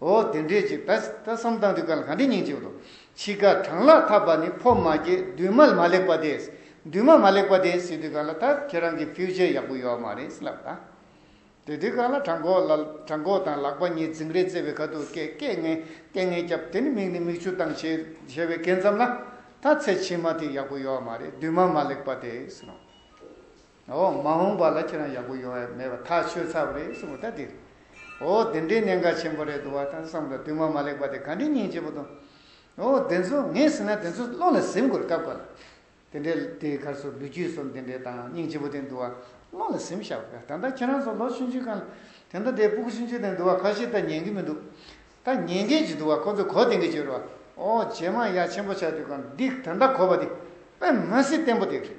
འོ་དེ་འདྲས་ཀྱི་ད་ད་བསམ་བཏང་དུས་ག་ལ་ག་འདྲས་སྙིང་རྗེ་བོ་དང་འཆི་ཁ་གྲང་ལག་འཐབ་པ་ནི་ཕོ་མ་ཀྱི་འདུན་མ་མ་ལེགས་པ་དེ་འདུན་མ་མ་ལེགས་པ་དེ་སྲིད་དུས་ག་ལ་ད་ཁྱེད་རང་གི Future ཡག་པོ་ཡོད་མ་རེད་ལབ་དང། དེ་དུས་ག་ལ་བྲང་ཁོག་ལ་བྲང་ཁོག་དང་ལག་པ་གཉིས་རྫིང་རེ་རྩེ་བའི་ཁ་ཐུག་སྐད་སྐད་ངན་སྐད་ངན་བརྒྱབ་དེ་ནི་མིག་ནི་མིག་ཆུ་བཏང་བྱས་བྱས་བའི་སྐད་མཚམས་ལ་ད་ཚེ་ཕྱི་མ་དེ་ཡག་པོ་ཡོད་མ་རེད་འདུན་མ་མ་ལེགས་པ་དེ་སྲིད། འོ་མ་འོངས་པ་ལ་ཁྱེད་རང་ཡག་པོ་ཡོང་ཡ་མེད་པ་ཐག་ཆོད་ཚར་བ་རེད་གསུང་བ་ད་དེ་འོ་དེ་འདྲའི་གནད་འགག་ཆེན་པོ་རེད་འདུག་བ་ད་བསམ་བློ་དུས་མ་མ་ལེགས་པ་དེ་ག་འདྲའི་སྙིང་རྗེ་པོ་དང་འོ་དེ་ཚོ་ངས་ཟེར་ན་དེ་ཚོ་བློ་ལ་ཟིན་དགོས་སྐབས་འགོར་དེ་འདྲའི་དེའི་ཁར་སོ་ལུས་རྒྱུས་སོ་འདི་འདྲའི་དང་སྙིང་རྗེ་པོ་དེ་འདུག་བ་བློ་ལ་ཟིན་བཞག་གོ་ད་ལྟ་ཁྱེད་རང་ཚོ་ལོ་ཆུང་ཆུང་གང་དེ་འདྲ་དེ་པུག་ཆུང་ཆུང་དེ་འདུག་བ་ཁ་ཤས་ད་ཉན་གི་མི་འདུག་ད་ཉན་མཁན་གྱི་འདུག་བ་ཁོ་ཚོས་གོ་བདེན་གི་བྱོས་རོགས་ཨོ་ཇེ་མང་ཡག་ཆེན་པོ་ཆགས་དུས་གང་འདི་ད་ལྟ་གོ་བ་དེ་དཔེ་མ་སྲིད་བརྟན་པོ་དེ་རེད།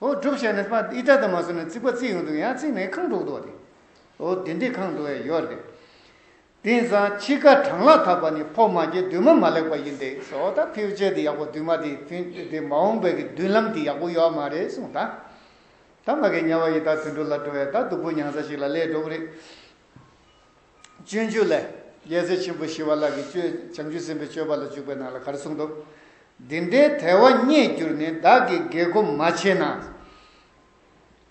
ཨོ་སྒྲུབ་བྱས་ནས་པདྨ་ཨི་ཏྲ་དུ་མ་བཟུང་ནས་རྩིག་པ་རྩིག་ཡོང་དུ་ཡང་རྩིག་མེད་ཁང་དྲུག་འདུག་སྟེ། ཨོ་དེ་འདྲའི་ཁང་དྲུག་ཡང་ཡོད་རེད། དེང་སང་ཕྱི་ཁ་གྲང་ལ་འཐག་པ་ནི་ཕོ་མ་གྱི་མདུན་མ་མ་ལེགས་པ་ཡིན་ཏེ་སོ་ད་ཕེའུ་ཅལ་དེ་ཡག་པོ་མདུན་མ་དེ་དེ་མ་འོངས་པའི་གི་མདུན་ལམ་དེ་ཡག་པོ་ཡོད་མ་རེད་གསུངས་ད། ད་ང་གི་དམྱལ་བ་ཡི་དྭགས་དུད་འགྲོ་ལ་འགྲོ་བས་ད་སྡུག་པོ་མྱངས་ས་ཞིག་ལ་སླེབས་འགྲོ་གི་རེད། སྤྱོད་འཇུག་ལས། རྒྱལ་སྲས་ཆེན་པོ་ཞི་བ་ལགས་ཀྱིས་སྤྱོད་བྱང་ཆུབ་སེམས་དཔའི་སྤྱོད་པ་ལ་འཇུག་པའི་ནང་ལ་ག་རེ་གསུངས་འདུག། འདི་འདྲའི་དལ་བ་རྙེད་གྱུར་ནས་བདག་གིས་དགེ་སྒོམ་མ་བྱས་ན།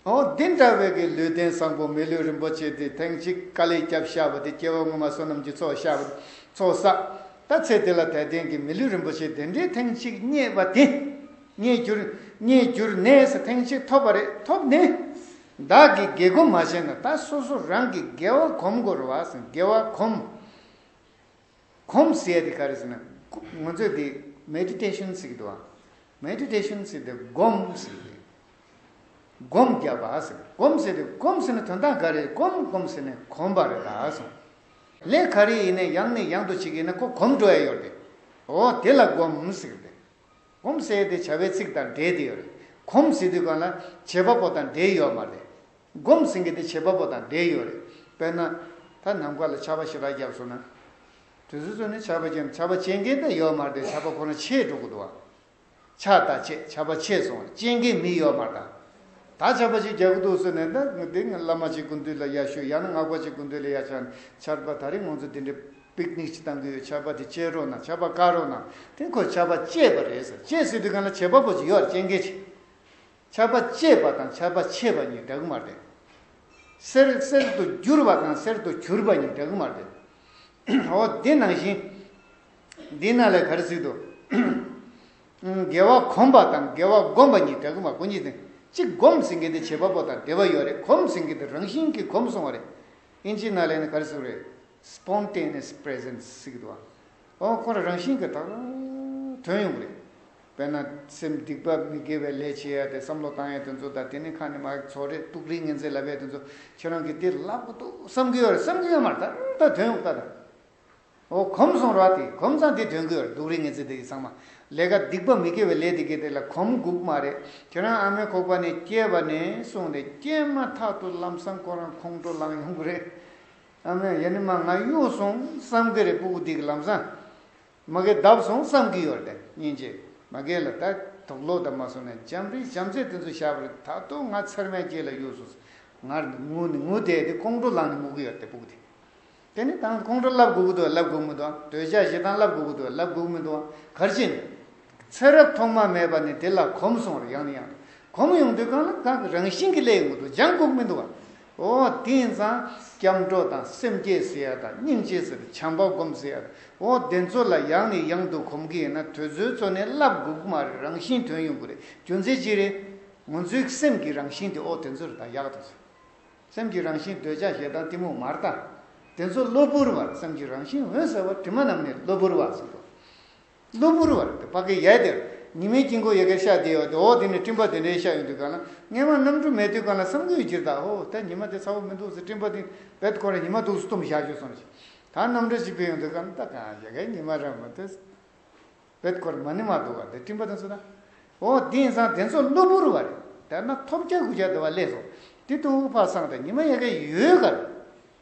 ཨོ། འདི་འདྲ་བའི་གི་ལུས་རྟེན་བཟང་པོ་མི་ལུས་རིན་པོ་ཆེ་འདི་ཐེངས་གཅིག་དཀའ་ལས་བསྐྱབས་བཞག་པ་འདི་སྐྱེ་བ་སྔོན་མ་བསོད་ནམས་ཀྱི་ཚོགས་བཞག་པ་ཚོགས་བསགས་ད་ཚེ་འདི་ལ་དལ་རྟེན་གྱི་མི་ལུས་རིན་པོ་ཆེ་འདི་འདྲའི་ཐེངས་གཅིག་རྙེད་པ་འདི། རྙེད་གྱུར། རྙེད་གྱུར་ནས་ཐེངས་གཅིག་ཐོབ་པ་རེད་ཐོབ་ནས། བདག་གིས་དགེ་བསྒོ་མ་བྱས་ན་ད་སོ་སོ་རང་གིས་དགེ་བ་གོམས་དགོ་རུ་བ་ཟེར་དགེ་བ་གོམས། གོམས་ཟེར་དེ་ག་རེ་ཟེར་ན། ངོ་ཚོས་དེ་མེ་ཏི་ཏེ་ཤུན་ཚིག་དུ་བ། མེ་ཏི་ཏེ་ཤུན་ཚིག་དེ་བསྒོམས་ཟེར་དེ། བསྒོམས་བརྒྱབ་པ་ཟེར་བསྒོམས་ཟེར་དེ་བསྒོམས་ཟེར་ན་དོན་དག་ག་རེ་བསྒོམས་བསྒོམས་ཟེར་ནས་གོམས་པ་རེད་ད་སོང། ལས་ག་རེ་ཡིན་ནས་ཡང་ནས་ཡང་དུ་བྱེད་ཀྱི་ཡིན་ན་ཁོ་གོམས་འགྲོ་ཡ་ཡོད་དེ། འོ་དེ་ལ་བསྒོམས་ཟེར་དེ། གོམས་བསལ་དེ་བྱ་བའི་ཚིག་དང་འབྲེལ་དེ་ཡོད་རེད། གོམས་བསལ་དུས་གང་ལ་བྱེད་པ་པོ་དང་འབྲེལ་ཡོད་མ་རེད། གོམས་བསལ་གྱི་དེ་བྱེད་པ་པོ་དང་འབྲེལ་ཡོད་རེད། དཔེར་ན། ད་ནམ་མཁའ་ལ་བྱ་བ་ཞེ་དྲག་བརྒྱབ་སོང་ན། དུས་ཚོད་ཚོད་ནི་བྱ་བ་བྱེད་བྱ་བ་བྱེད་མཁན་དེ་ཡོད་མ་རེད་བྱ་བ་ཁོ་ན་བྱེད་འགྲོ་གི་འདུག་ཨ། ཆ་ད་བྱས་བྱ་བ་བྱས་སོང་བར་བྱེད་མཁན་མི་ཡོད་མ་རེད་ཨ། ད་ཆར་པ་ཞིག་རྒྱག་གི་འདུག་ཟེར་ནས་ད་དེ་སྔོན་བླ་མ་ཅིག་དགུན་དུས་ལ་ཡར་ཞུ་ཡང་ན་སྔགས་པ་ཅིག་དགུན་དུས་ལ་ཡར་ཕྱར་ཆར་པ་ད་རེས་ང་ཚོ་དེ་འདྲའི་པིག་ནིག་ཅིག་བཏང་གི་ཡོད་ཆར་པ་དེ་བཅད་རོགས་གནང་ཆར་པ་བཀག་རོགས་གནང་དེ་ཁོས་ཆར་པ་བཅད་པ་རེད་ཟེར་བཅད་སྲིད་དུས་གང་ལ་བྱེད་པ་པོ་ཅིག་ཡོད་བཅད་མཁན་ཆེ་ཆར་པ་བཅད་པ་དང་ཆར་པ་ཕྱེས་པ་གཉིས་འདྲ་གི་མ་རེད། སེར་གསེར་དུ་བསྒྱུར་བ་དང་གསེར་དུ་གྱུར་པ་གཉིས་འདྲ་གི་མ་རེད། འོ་འདི་ནང་བཞིན་འདི་ནང་ལས་ག་རེ་ཟིག་འདུག། དགེ་བ་གོམས་པ་དང་དགེ་བ་བསྒོམ་པ་གཉིས་འདྲ་གི་མ་གོ་གཉིས་དང་གཅིག་སྒོམ་ཟིན་གི་དེ་བྱེད་པ་པོ་དང་བདེ་བ་ཡོད་རེད་གོམས་ཟིན་གི་དེ་རང་བཞིན་གྱིས་གོམས་སོང་བ་རེད་ཨིན་ཇི་ནཱ་ལེ་ནི་ག་རེ་ཟེར་བ་རེད Spontaneous Presence ཟེར་གི་འདུག་ཨ་འོ་ཁོ་རང་རང་བཞིན་གྱིས་དག་དོན་ཡོང་གི་རེད་དཔེར་ན་སེམས་སྡིག་པ་མི་དགེ་བའི་ལས་བྱེད་ཡ་དེ་བསམ་བློ་བཏང་ཡ་དེ་ཚོ་དང་དེ་ནི་ཁ་ནི་མ་ཚོགས་རེད་ཏུག་རིག་ངན་ཚེ་ལབ་ཡ་དེ་ཚོ་ཁྱེད་རང་གིས་དེ་ལབ་གི་འདུག་བསམ་གི་ཡོད་རེད་བསམ་གི་ཡོད་མ་རེད་ད་དོན་ཡོང་གི་དག་དང། འོ་གོམ་སོང་ར་དེ་གོམ་ཚང་དེ་དོན་གོས་འདུག་རེད་ངེ་ཚེ་དེ་ཡི་ཚང་མ་ལས་ཀ་སྡིག་པ་མི་དགེ་བའི་ལས་དེ་དགེ་དེ་ལ་གོམ་འགུག་མ་རེད་ཁྱོད་རང་ཨ་མའི་ཁོག་པ་ནས་སྐྱེས་པ་ནས་སོང་ནས་སྐྱེས་མ་ཐག་ཏུ་ལམ་སང་ཁོ་རང་ཁོང་ཁྲོ་ལངས་ཡོང་གི་རེད་ཨ་མས་ཡ་ནི་མ་ང་གཡུག་སོང་བསམ་གི་རེད་སྤུ་གུ་དེ་གི་ལམ་སང་མ་རྒས་བརྡབས་སོང་བསམ་གི་ཡོད་རེད་སྙིང་རྗེ་མ་རྒས་ལ་ད་དུག་ལོག་ད་མ་སོང་ནས་འཇམ་རི་བྱམས་བརྩེ་དེ་ཚོ་བཞག་པ་རེད་ད་དུག་ང་ཚེར་མའི་སྐྱེས་ལ་གཡུག་སོང་ང་ངུ་ནི་ངུ་དེ་དེ་ཁོང་ཁྲོ་ལངས་ནས་ངུ་གི་ཡོད་རེད་སྤུ་གུ་དེ། དེ་ནི་དང་ཁོང་ཁྲོ་བསླབ་དགོས་ཀྱི་འདུག་བསླབ་དགོས་མི་འདུག་འདོད་ཆགས་ཞེ་སྡང་བསླབ་དགོས་ཀྱི་འདུག་བསླབ་དགོས་མི་འདུག་གར་ཕྱིན། ཚེ་རབས་ཐོག་མ་མེད་པ་ནས་དེ་ལ་གོམས་སོང་བར་ཡང་ནས་ཡང་གོམས་ཡོང་དུས་གང་ལ་གང་གི་རང་བཞིན་གྱི་ལས་ཡོང་གི་འདུག་སྦྱང་དགོས་ཀྱི་མི་འདུག། འོ་དེང་སང་སྐྱབས་འགྲོ་དང་སེམས་བསྐྱེད་ཟེར་ཡ་དང་སྙིང་རྗེ་ཟེར་བའི་བྱམས་པ་སྒོམ་ཟེར་ཡ་དང་འོ་དེ་ཚོ་ལ་ཡང་ནས་ཡང་དུ་གོམས་ཀྱི་ཡིན་ན་དོལ་ཚོའི་ཚོ་ནི་བསླབ་དགོས་ཀྱི་མ་རེད་རང་བཞིན་དོན་ཡོང་གི་རེད་རྒྱུ་མཚན་ཅི་རེད། ངོ་ཚོའི་སེམས་ཀྱི་རང་བཞིན་དེ་འོ་དེ་ཚོ་རེད་ད་ཡག་ཏུ་ཟེར། སེམས་ཀྱི་རང་བཞིན་འདོད་ཆགས་ཞེ་སྡང་གཏི་མུག་མར་དག། དེ་ཚོ་གློ་བུར་བར་སེམས་ཀྱི་རང་བཞིན་འོད་གསལ་བ་དྲི་མ་རྣམས་ནི་གློ་བུར་བར་གསུངས་སོ། གློ་བུར་བར་དེ་བྷ་གའི་ཡས་དེར་ཉི་མའི་དཀྱིལ་འཁོར་ཡི་གེར་ཤ་དེའི་འོག་དེ་འོག་དེ་ནི་སྤྲིན་པ་དེ་འདྲའི་ཤ་ཡོང་དུས་གང་ན་སྔས་མ་རྣམ་འགྲུབ་མའི་དུས་གང་ན་བསམ་དགུའི་རྗེས་དག་ཧོ་ད་ཉི་མ་དེ་ཚ་བོ་མི་འདུག་ཟེར་སྤྲིན་པ་དེ་བད་ཁོ་ར་ཉི་མ་འདུག་ཟེར་གཏུམ་བཞག་བྱོས་སོང་ཞིག་ད་རྣམ་གྲོལ་གཅིག་པས་ཡོང་དུས་གང་ན་ད་གང་ཞེ་གའི་ཉི་མ་ར་མོ་དེ། བོད་སྐོར་མ་ནི་མ་འདུག་བ་འདི་སྤྲིན་པ་དང་སུ་ར། འོ་དེ་ཡིན་ཙང་དེ་ཚོ་གློ་བུར་བ་རེད་དར་ན་ཐོབ་བརྒྱ་དགུ་བརྒྱ་འདུ་བ་ལས་སོ་དེ་ཏུ་དབུག་ཕག་སང་དང་ཉི་མ་ཡ་ག་ཡོད་ག་རེད།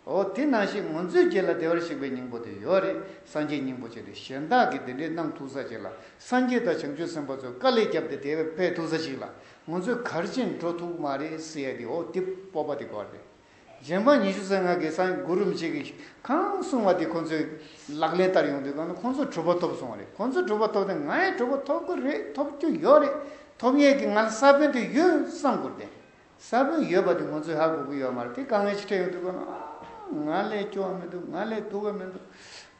འོ་དེ་ནང་བཞིན་ངོ་མཚོས་རྒྱལ་ལ་བདེ་བར་གཤེགས་པའི་སྙིང་པོ་དེ་ཡོད་རེད་སངས་རྒྱས་སྙིང་པོ་ཅན་དེ་གཞན་དག་གིས་དེ་འདྲའི་གནང་ཐུག་ས་ཅིག་ལ་སངས་རྒྱས་དང་བྱང་ཆུབ་སེམས་དཔའ་ཚོས་དཀའ་ལས་བརྒྱབ་སྟེ་དེ་བས་ཕེབས་ཐུག་ས་ཞིག་ལ་ངོ་མཚོས་གར་ཕྱིན་འགྲོ་ཐུག་མ་རེད་སི་ཡ་དེ་འོ་དེ་སྤོབས་པ་དེ་གོ་རེད། རྗེ་འབངས་ཉི་ཤུ་ཟན་ལྔ་གིས་སང་གི་གུ་རུ་མཆེད་ཀྱིས་གང་གསུངས་བ་དེ་ཁོང་ཚོས་ལག་ལེན་བསྟར་ཡོང་དུས་གང་ན་ཁོང་ཚོ་གྲུབ་པ་ཐོབ་སོང་བ་རེད་ཁོང་ཚོ་གྲུབ་པ་ཐོབ་ཏེ་ང་ཡང་གྲུབ་པ་ཐོབ་གི་རེད་ཐོབ་རྒྱུ་ཡོད་རེད་ཐོབ་ཡས་ཀྱི་ང་ལ་ས་བོན་དེ་ཡོད་བསམ་གོ་བདེ་ས་བོན་ཡོད་པ་དེ་ང་ཚོས་ཧ་གོ་གི་ཡོད་མ་རེད་དེ་གང་ངའི་ཕྱི་དྲན་ཡོང་དུས་གང་ན་ཨ་ང་ལས་སྐྱོ་བ་མི་འདུག་ང་ལས་སྡུག་བ་མི་འདུག་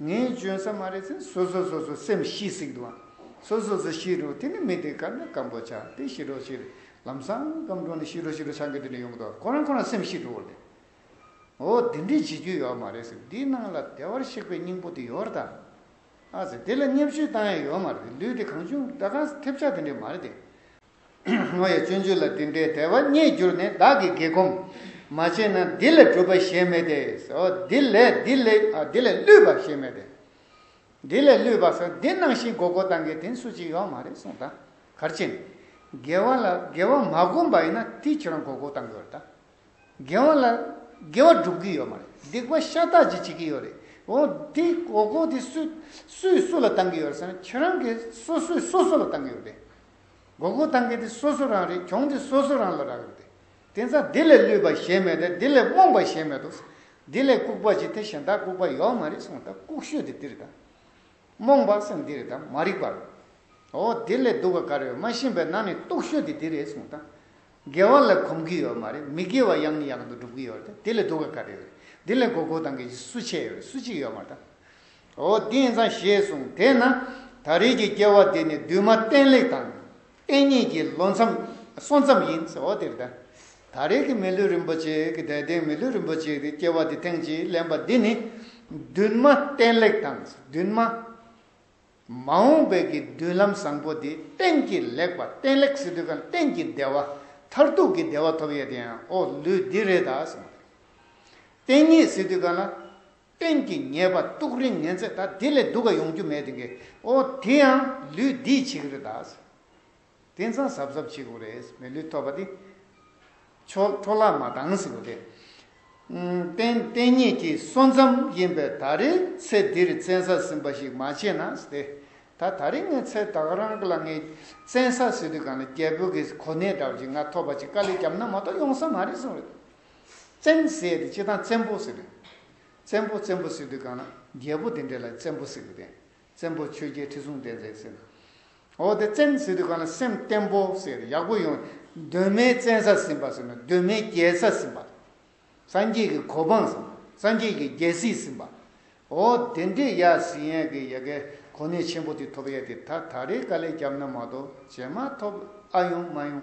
ངས་འཇོན་ས་མ་རེད་ཟེར་སོ་སོས་སོ་སོའི་སེམས་ཤེས་སྲིད་དུའང་སོ་སོས་སོ་ཤེས་རོགས་དེ་ནི་མི་དེ་ག་ན་སྐམ་པོ་ཆགས་དེ་ཤི་རོགས་ཤི་རེད་ལམ་སང་སྐམ་འགྲོ་ནས་ཤི་རུ་ཤི་རུ་ཆང་གི་དུས་ནས་ཡོང་གི་འདུག་ཁོ་རང་ཁོ་རང་སེམས་ཤི་འགྲོ་བར་འདུག་འོ་དེ་འདྲས་བྱེད་རྒྱུ་ཡོད་མ་རེད་ཟེར་འདིའི་ནང་ལ་བདེ་བར་གཤེགས་པའི་སྙིང་པོ་དེ་ཡོད་རེད་དམ་ཨ་ཟེར་དེ་ལ་བརྙས་བཅོས་བཏང་ཡས་ཡོད་མ་རེད་དེ་ལུས་དེ་གང་བྱུང་སྒྲ་གང་ཐེབས་ཆག་དེ་འདྲས་མ་རེད་དེ། ངོ་ཡ་སྤྱོད་འཇུག་ལ་འདི་འདྲའི་དད་པ་རྙེད་རྒྱུར་ནི་བདག་གིས་དགེ་སྒོམ་མ་བྱས་ན་འདི་ལས་གྲུབ་པ་གཞན་མེད་དེ་འོ་འདི་ལས་འདི་ལས་འདི་ལས་བསླུས་པ་གཞན་མེད་དེ། འདི་ལས་བསླུས་པ་སོགས་འདི་སྣང་ཞིང་གོ་གོ་དང་གི་དེང་སུ་གཅིག་ཡོག་མ་རེད་གསུངས་དང་གར་ཕྱིན། དགེ་བ་ལ་དགེ་བ་མ་བསྒོམ་པ་ཡིན་ན་དེ་ཁྱོད་རང་གོ་གོ་དང་གི་ཡོ་རེད་དང། དགེ་བ་ལ་དགེ་བ་སྒྲུབ་གི་ཡོག་མ་རེད་སྡིག་པ་ཤ་སྟག་ཅིག་བྱེད་གི་ཡོག་རེད་འོ་དེ་གོ་གོ་དེ་སུ་སུས་སུ་ལ་དང་གི་ཡོ་རེད་ཟེར་ན་ཁྱོད་རང་གི་སོ་སུས་སོ་སོ་ལ་དང་གི་ཡོ་རེད་གོ་གོ་དང་གི་དེ་སོ་སོ་རང་རེད་གྱོང་དེ་སོ་སོ་རང་ལ་རག་ཡོ་རེད། དེ་མཚམས་དེ་ལས་བསླུས་པ་གཞན་མེད་དེ་དེ་ལས་རྨོངས་པ་གཞན་མེད་དོ། དེ་ལས་ལྐུགས་པ་ཅི་དེ་གཞན་དག་ལྐུགས་པ་ཡོད་མ་རེད་གསུངས་དང་ལྐུགས་ཤོས་དེ་འདིར་དང། རྨོངས་པ་སེམས་འདིར་དང་མ་རིག་པ་རོ། འོ་དེ་ལས་སྡུག་པ་ག་རེ་ཡོད་མ་ཤེས་པས་ན་ནི་རྟོགས་ཤོས་དེ་འདི་རེད་གསུངས་དང། དགེ་བ་ལ་གོམས་ཀྱི་ཡོད་མ་རེད་མི་དགེ་བ་ཡང་ནི་ཡང་དུ་སྒྲུབ་ཀྱི་ཡོད་རེད་དེ་ལས་སྡུག་པ་ག་རེ་ཡོད་རེད་དེ་ལས་གོ་གོ་དང་གི་ཅི་སུ་ཆེ་ཡོད་རེད་སུ་གཅིག་ཡོད་མ་དང། འོ་དེ་ཡིན་ཙང་ཞེས་གསུངས་དེས་ན་ད་རེས་ཀྱི་སྐྱེ་བ་འདི་ནི་འདུས་མ་བསྟན་ལེགས་དང། བསྟན་གཉིས་ཀྱི་ལོ་མཚམས་སོ་མཚམས་ཡིན། ད་རེས་ཀྱི་མི་ལུས་རིན་པོ་ཆེ་ཀྱི་དད་ལྡན་མི་ལུས་རིན་པོ་ཆེ་ཀྱི་སྐྱེ་བ་འདི་ཐེངས་གཅིག་ལེན་པ་འདི་ནི། མདུན་མ་བསྟན་ལེགས་དང་མདུན་མ། མ་འོངས་པའི་ཀྱི་མདུན་ལམ་བཟང་པོ་འདི་བསྟན་གྱི་ལེགས་པ་བསྟན་ལེགས་སི་དུས་གང་བསྟན་གྱི་བདེ་བ་མཐར་ཐུག་གི་བདེ་བ་ཐོབ་ཡས་དེ་ཡང་ཨོ་ལུས་འདི་རེད་ད། བསྟན་གཉིས་སི་དུས་གང་ལ། སྟེང་གི་ཉེས་པ་གཏུགས་རིང་ངན་ཚད་ད་དེ་ལས་སྡུག་ག་ཡོང་རྒྱུ་མེད་དགེ་ཨོ་དེ་ཡང་ལུས་འདིས་བྱེད་ཀྱི་རེད་ད། དེ་མཚང་ཟབ་ཟབ་བྱེད་དགོས་རེད་མི་ལུས་ཐོབ་པ་དེ། ཆོག་འཕྲོ་བརླག་མ་གཏང་ཟེར་བ་དེ། བསྟན་གཉིས་ཀྱི་སོ་མཚམས་ཡིན་པས་ད་རེས་ཚེ་འདིར་བཙན་ས་ཟིན་པ་ཞིག་མ་བྱས་ན་དེ། ད་ད་རེས་ངའི་ཚེ་ད་ག་རང་གི་ལ་ངའི་བཙན་ས་ཟེར་དུས་གང་ལ་རྒྱལ་པོ་གི་གོ་གནས་འདྲ་བ་ཅིག་ང་ཐོབ་པ་ཅིག་དཀའ་ལས་བརྒྱབ་ན་མ་གཏོགས་ཡོང་ས་མ་རེད་གསུངས་རེད། བཙན་ཟེར་དེ་སྤྱིར་བཏང་བཙན་པོ་ཟེར་དུས། བཙན་པོ་བཙན་པོ་ཟེར་དུས་གང་ན་རྒྱལ་པོ་དེ་འདྲས་ལ་བཙན་པོ་ཟེར་གི་དེ། བཙན་པོ་ཆོས་རྒྱལ་ཁྲི་སྲོང་ལྡེ་བཙན་ཟེར། འོ་དེ་བཙན་ཟེར་དུས་གང་ན་སེམས་བརྟན་པོ་ཟེར་ཡག་པོ་ཡོང། གདོད་མའི་བཙན་ས་ཟིན་པ་ཟེར་ན་གདོད་མའི་རྒྱལ་ས་ཟིན་པ། སངས་རྒྱས་ཀྱི་གོ་འཕང་ཟིན་པ་སངས་རྒྱས་ཀྱི་རྒྱལ་སྲིད་ཟིན་པ། འོ་དེ་འདྲས་ཡ་ཟིན་ཡ་གི་ཡ་གི་གོ་གནས་ཆེན་པོ་དེ་ཐོབ་ཡ་དེ་ད་ད་རེས་དཀའ་ལས་བརྒྱབ་ན་མ་གཏོགས་བྱེད་མ་ཐོབ་ཨ་ཡོང་མ་ཡོང།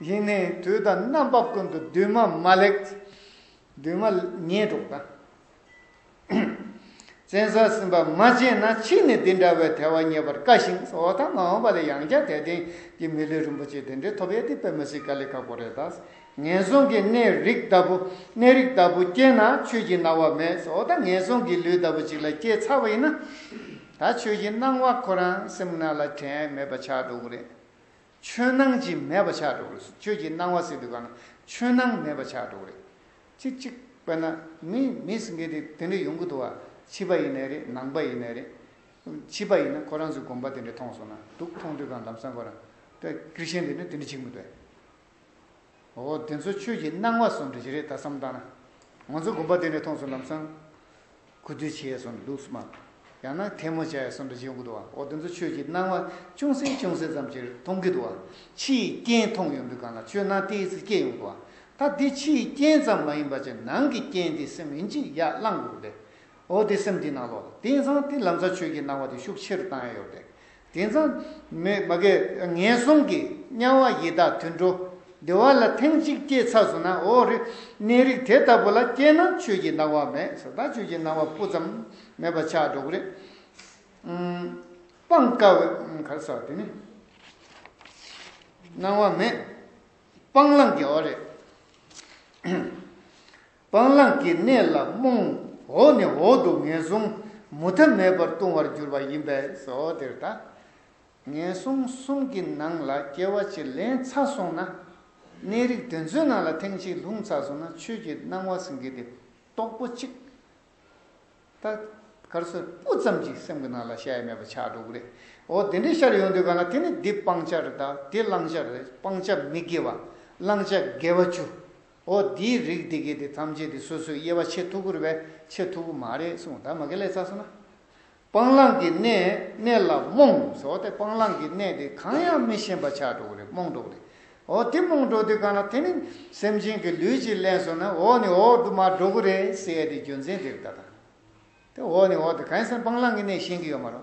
དབྱིངས་ནི་དུས་དང་རྣམ་པ་ཀུན་ཏུ་འདུས་མ་མ་ལེགས། འདུས་མ་ཉེས་གྲོགས་དང། བཙན་ས་ཟིན་པ་མ་བྱས་ན་ཕྱིས་ནས་འདི་འདྲ་བའི་དལ་བ་རྙེད་པར་དཀའ་ཞིང་བཟོ་བ་དང་མ་འོངས་པ་ལས་ཡང་བསྐྱར་དལ་རྟེན་གྱི་མི་ལུས་རིན་པོ་ཆེ་དེ་འདྲའི་ཐོབ་ཡ་དེ་པད་མ་སྲིད་དཀའ་ལས་ཁག་པོ་རེད་ད། ངན་སོང་གི་གནས་རིགས་ལྟ་བུ་གནས་རིགས་ལྟ་བུ་སྐྱེས་ན་ཆོས་ཀྱི་སྣང་བ་མེད་བཟོ་བ་དང་ངན་སོང་གི་ལུས་ལྟ་བུ་ཅིག་ལ་སྐྱེས་ཚར་བ་ཡིན་ན། ད་ཆོས་ཀྱི་སྣང་བ་ཁོ་རང་སེམས་ནང་ལ་དྲན་མེད་པ་ཆགས་འགྲོ་གི་རེད། ཆོས་སྣང་ཅི་མེད་པ་ཆགས་འགྲོ་གི། ཁྱོད་ཀྱིས་སྣང་བ་སྲིད་དུ་གང། ཆོས་སྣང་མེད་པ་ཆགས་འགྲོ་གི། ཅིག་ཅིག། དཔེར་ན། མི་མི་སེངྒེ་དེ་དེ་འདྲས་ཡོང་གི་འདུག་བ། བྱིས་པ་ཡིན་ནའི་རེད་ནང་པ་ཡིན་ནའི་རེད། བྱིས་པ་ཡིན་ན་ཁོ་རང་ཚོའི་དགོངས་པ་དེ་འདྲས་མཐོང་སོང་ན་འདུག་མཐོང་དུས་གང་ལམ་སང་ཁོ་རང། ཀིར་ཤན་དེ་འདྲས་དེ་འདྲས་བྱེད་གི་མི་འདུག་བས། འོ་དེ་ཚོ་ཆོས་ཀྱི་སྣང་བ་སོགས་འདྲི་གཞི་རེད་ད་བསམ་བཏང་ན། ང་ཚོ་དགོན་པ་དེ་ནས་མཐོང་ཚུལ་ལམ་སང། གུ་དུས་བྱས་སོང་འདུག་སྨ། ཡང་ན་ཐལ་མོ་བྱས་སོང་འདྲི་གཞི་ཡོང་གི་འདུག་བ་འོ་དེ་ཚོ་ཆོས་ཀྱི་སྣང་བ་ཅུང་ཟད་ཅུང་ཟད་ཙམ་གྱིས་མཐོང་གི་འདུག་བ། ཕྱི་ཡི་རྐྱེན་མཐོང་ཡོང་དུས་གང་ལ་ཆོས་སྣང་ཏེ་ཚིག་སྐྱེས་ཡོང་གི་བ། ད་དེ་ཕྱི་ཡི་རྐྱེན་ཙམ་མ་ཡིན་པ་ཆེ་ནང་གི་རྐྱེན་དེ་སེམས་ཡིན་གྱི་ཡར་བསླང་དགོས་གི་རེད། འོ་དེ་སེམས་དེའི་ནང་ལོ་དེང་སང་དེ་ལམ་སང་ཆོས་ཀྱི་སྣང་བ་དེ་ཤུགས་ཆེར་བཏང་ཡ་ཡོད་རེད། དེང་སང། མོད་མ་དགེ། ངན་སོང་གི། དམྱལ་བ་ཡི་དྭགས་དུད་འགྲོ། བདེ་བ་ལ་ཐེངས་གཅིག་སྐྱེས་ཚར་སོང་ན་ཨོ་རེད། གནས་རིགས་དེ་ལྟ་བུ་ལ་སྐྱེས་ན་ཆོས་ཀྱི་སྣང་བ་མེད་ས་དང་ཆོས་ཀྱི་སྣང་བ་སྤུ་ཙམ་མེད་པ་ཆགས་འགྲོ་གི་རེད། སྤང་དཀའ་བའི། ག་རེ་ཟེར་བ་དེ་ནི། སྣང་བ་མེད། སྤང་བླང་གི་ཨོ་རེད། སྤང་བླང་གི་གནས་ལ་རྨོངས། འོག་ནས་འོག་ཏུ་ངན་སོང་མུ་མཐའ་མེད་པར་ལྟུང་བར་འགྱུར་བ་ཡིན་པས་སོ། དེར་ལྟ། ངན་སོང་གསུམ་གྱི་ནང་ལ་སྐྱེ་བ་ཅིག་ལན་ཚ་སོང་ན། གནས་རིགས་དེ་ཚོའི་ནང་ལ་ཐེངས་གཅིག་ལྷུང་ཚ་སོང་ན་ཆོས་ཀྱི་སྣང་བ་ཟིན་གྱི་དེ་རྟོགས་པོ་གཅིག་ད་གར་སོ་སྤུ་ཙམ་གྱིས་སེམས་ཀྱི་ནང་ལ་ཤ་ཡ་མེད་པ་ཆགས་འགྲོ་གི་རེད། འོ་དེ་འདྲའི་ཤར་ཡོང་དུས་གང་ལ་དེ་ནི་འདི་སྤང་བྱ་རེད་ད་དེ་བླང་བྱ་རེད་སྤང་བྱ་མི་དགེ་བ་བླང་བྱ་དགེ་བ་བཅུ། ཨོ་འདིའི་རིགས་འདི་གས་དེ་ཐམས་ཅད་དེ་སོ་སོའི་དབྱེ་བ་ཆེས་མཐུག་པོར་བས་ཆེས་མཐུག་པོ་མ་རེད་གསུངས་ད་མ་གལ་ལས་ཚ་སོང་ན། སྤང་བླང་གི་གནས་གནས་ལ་རྨོངས་ཟེར་བ་དེ་སྤང་བླང་གི་གནས་དེ་གང་ཡང་མི་ཤེས་པ་ཆགས་གྲོགས་རེད་རྨོངས་གྲོགས་རེད། ཨོ་དེ་རྨོངས་གྲོགས་དེ་གང་ལ་དེ་ནི་སེམས་ཅན་གྱི་ལུས་ཀྱིས་གླེང་སོང་ན་ཨོ་ནི་ཨོ་དུ་མ་གྲོགས་རེད་ཟེར་ཡ་དེ་རྒྱུ་མཚན་དེར་ལྟ་དང། དེ་འོག་ནས་འོག་ཏུ་གངས་སེང་སྤང་བླང་གི་གནས་ཤེས་ཀྱི་ཡོད་མ་རོ།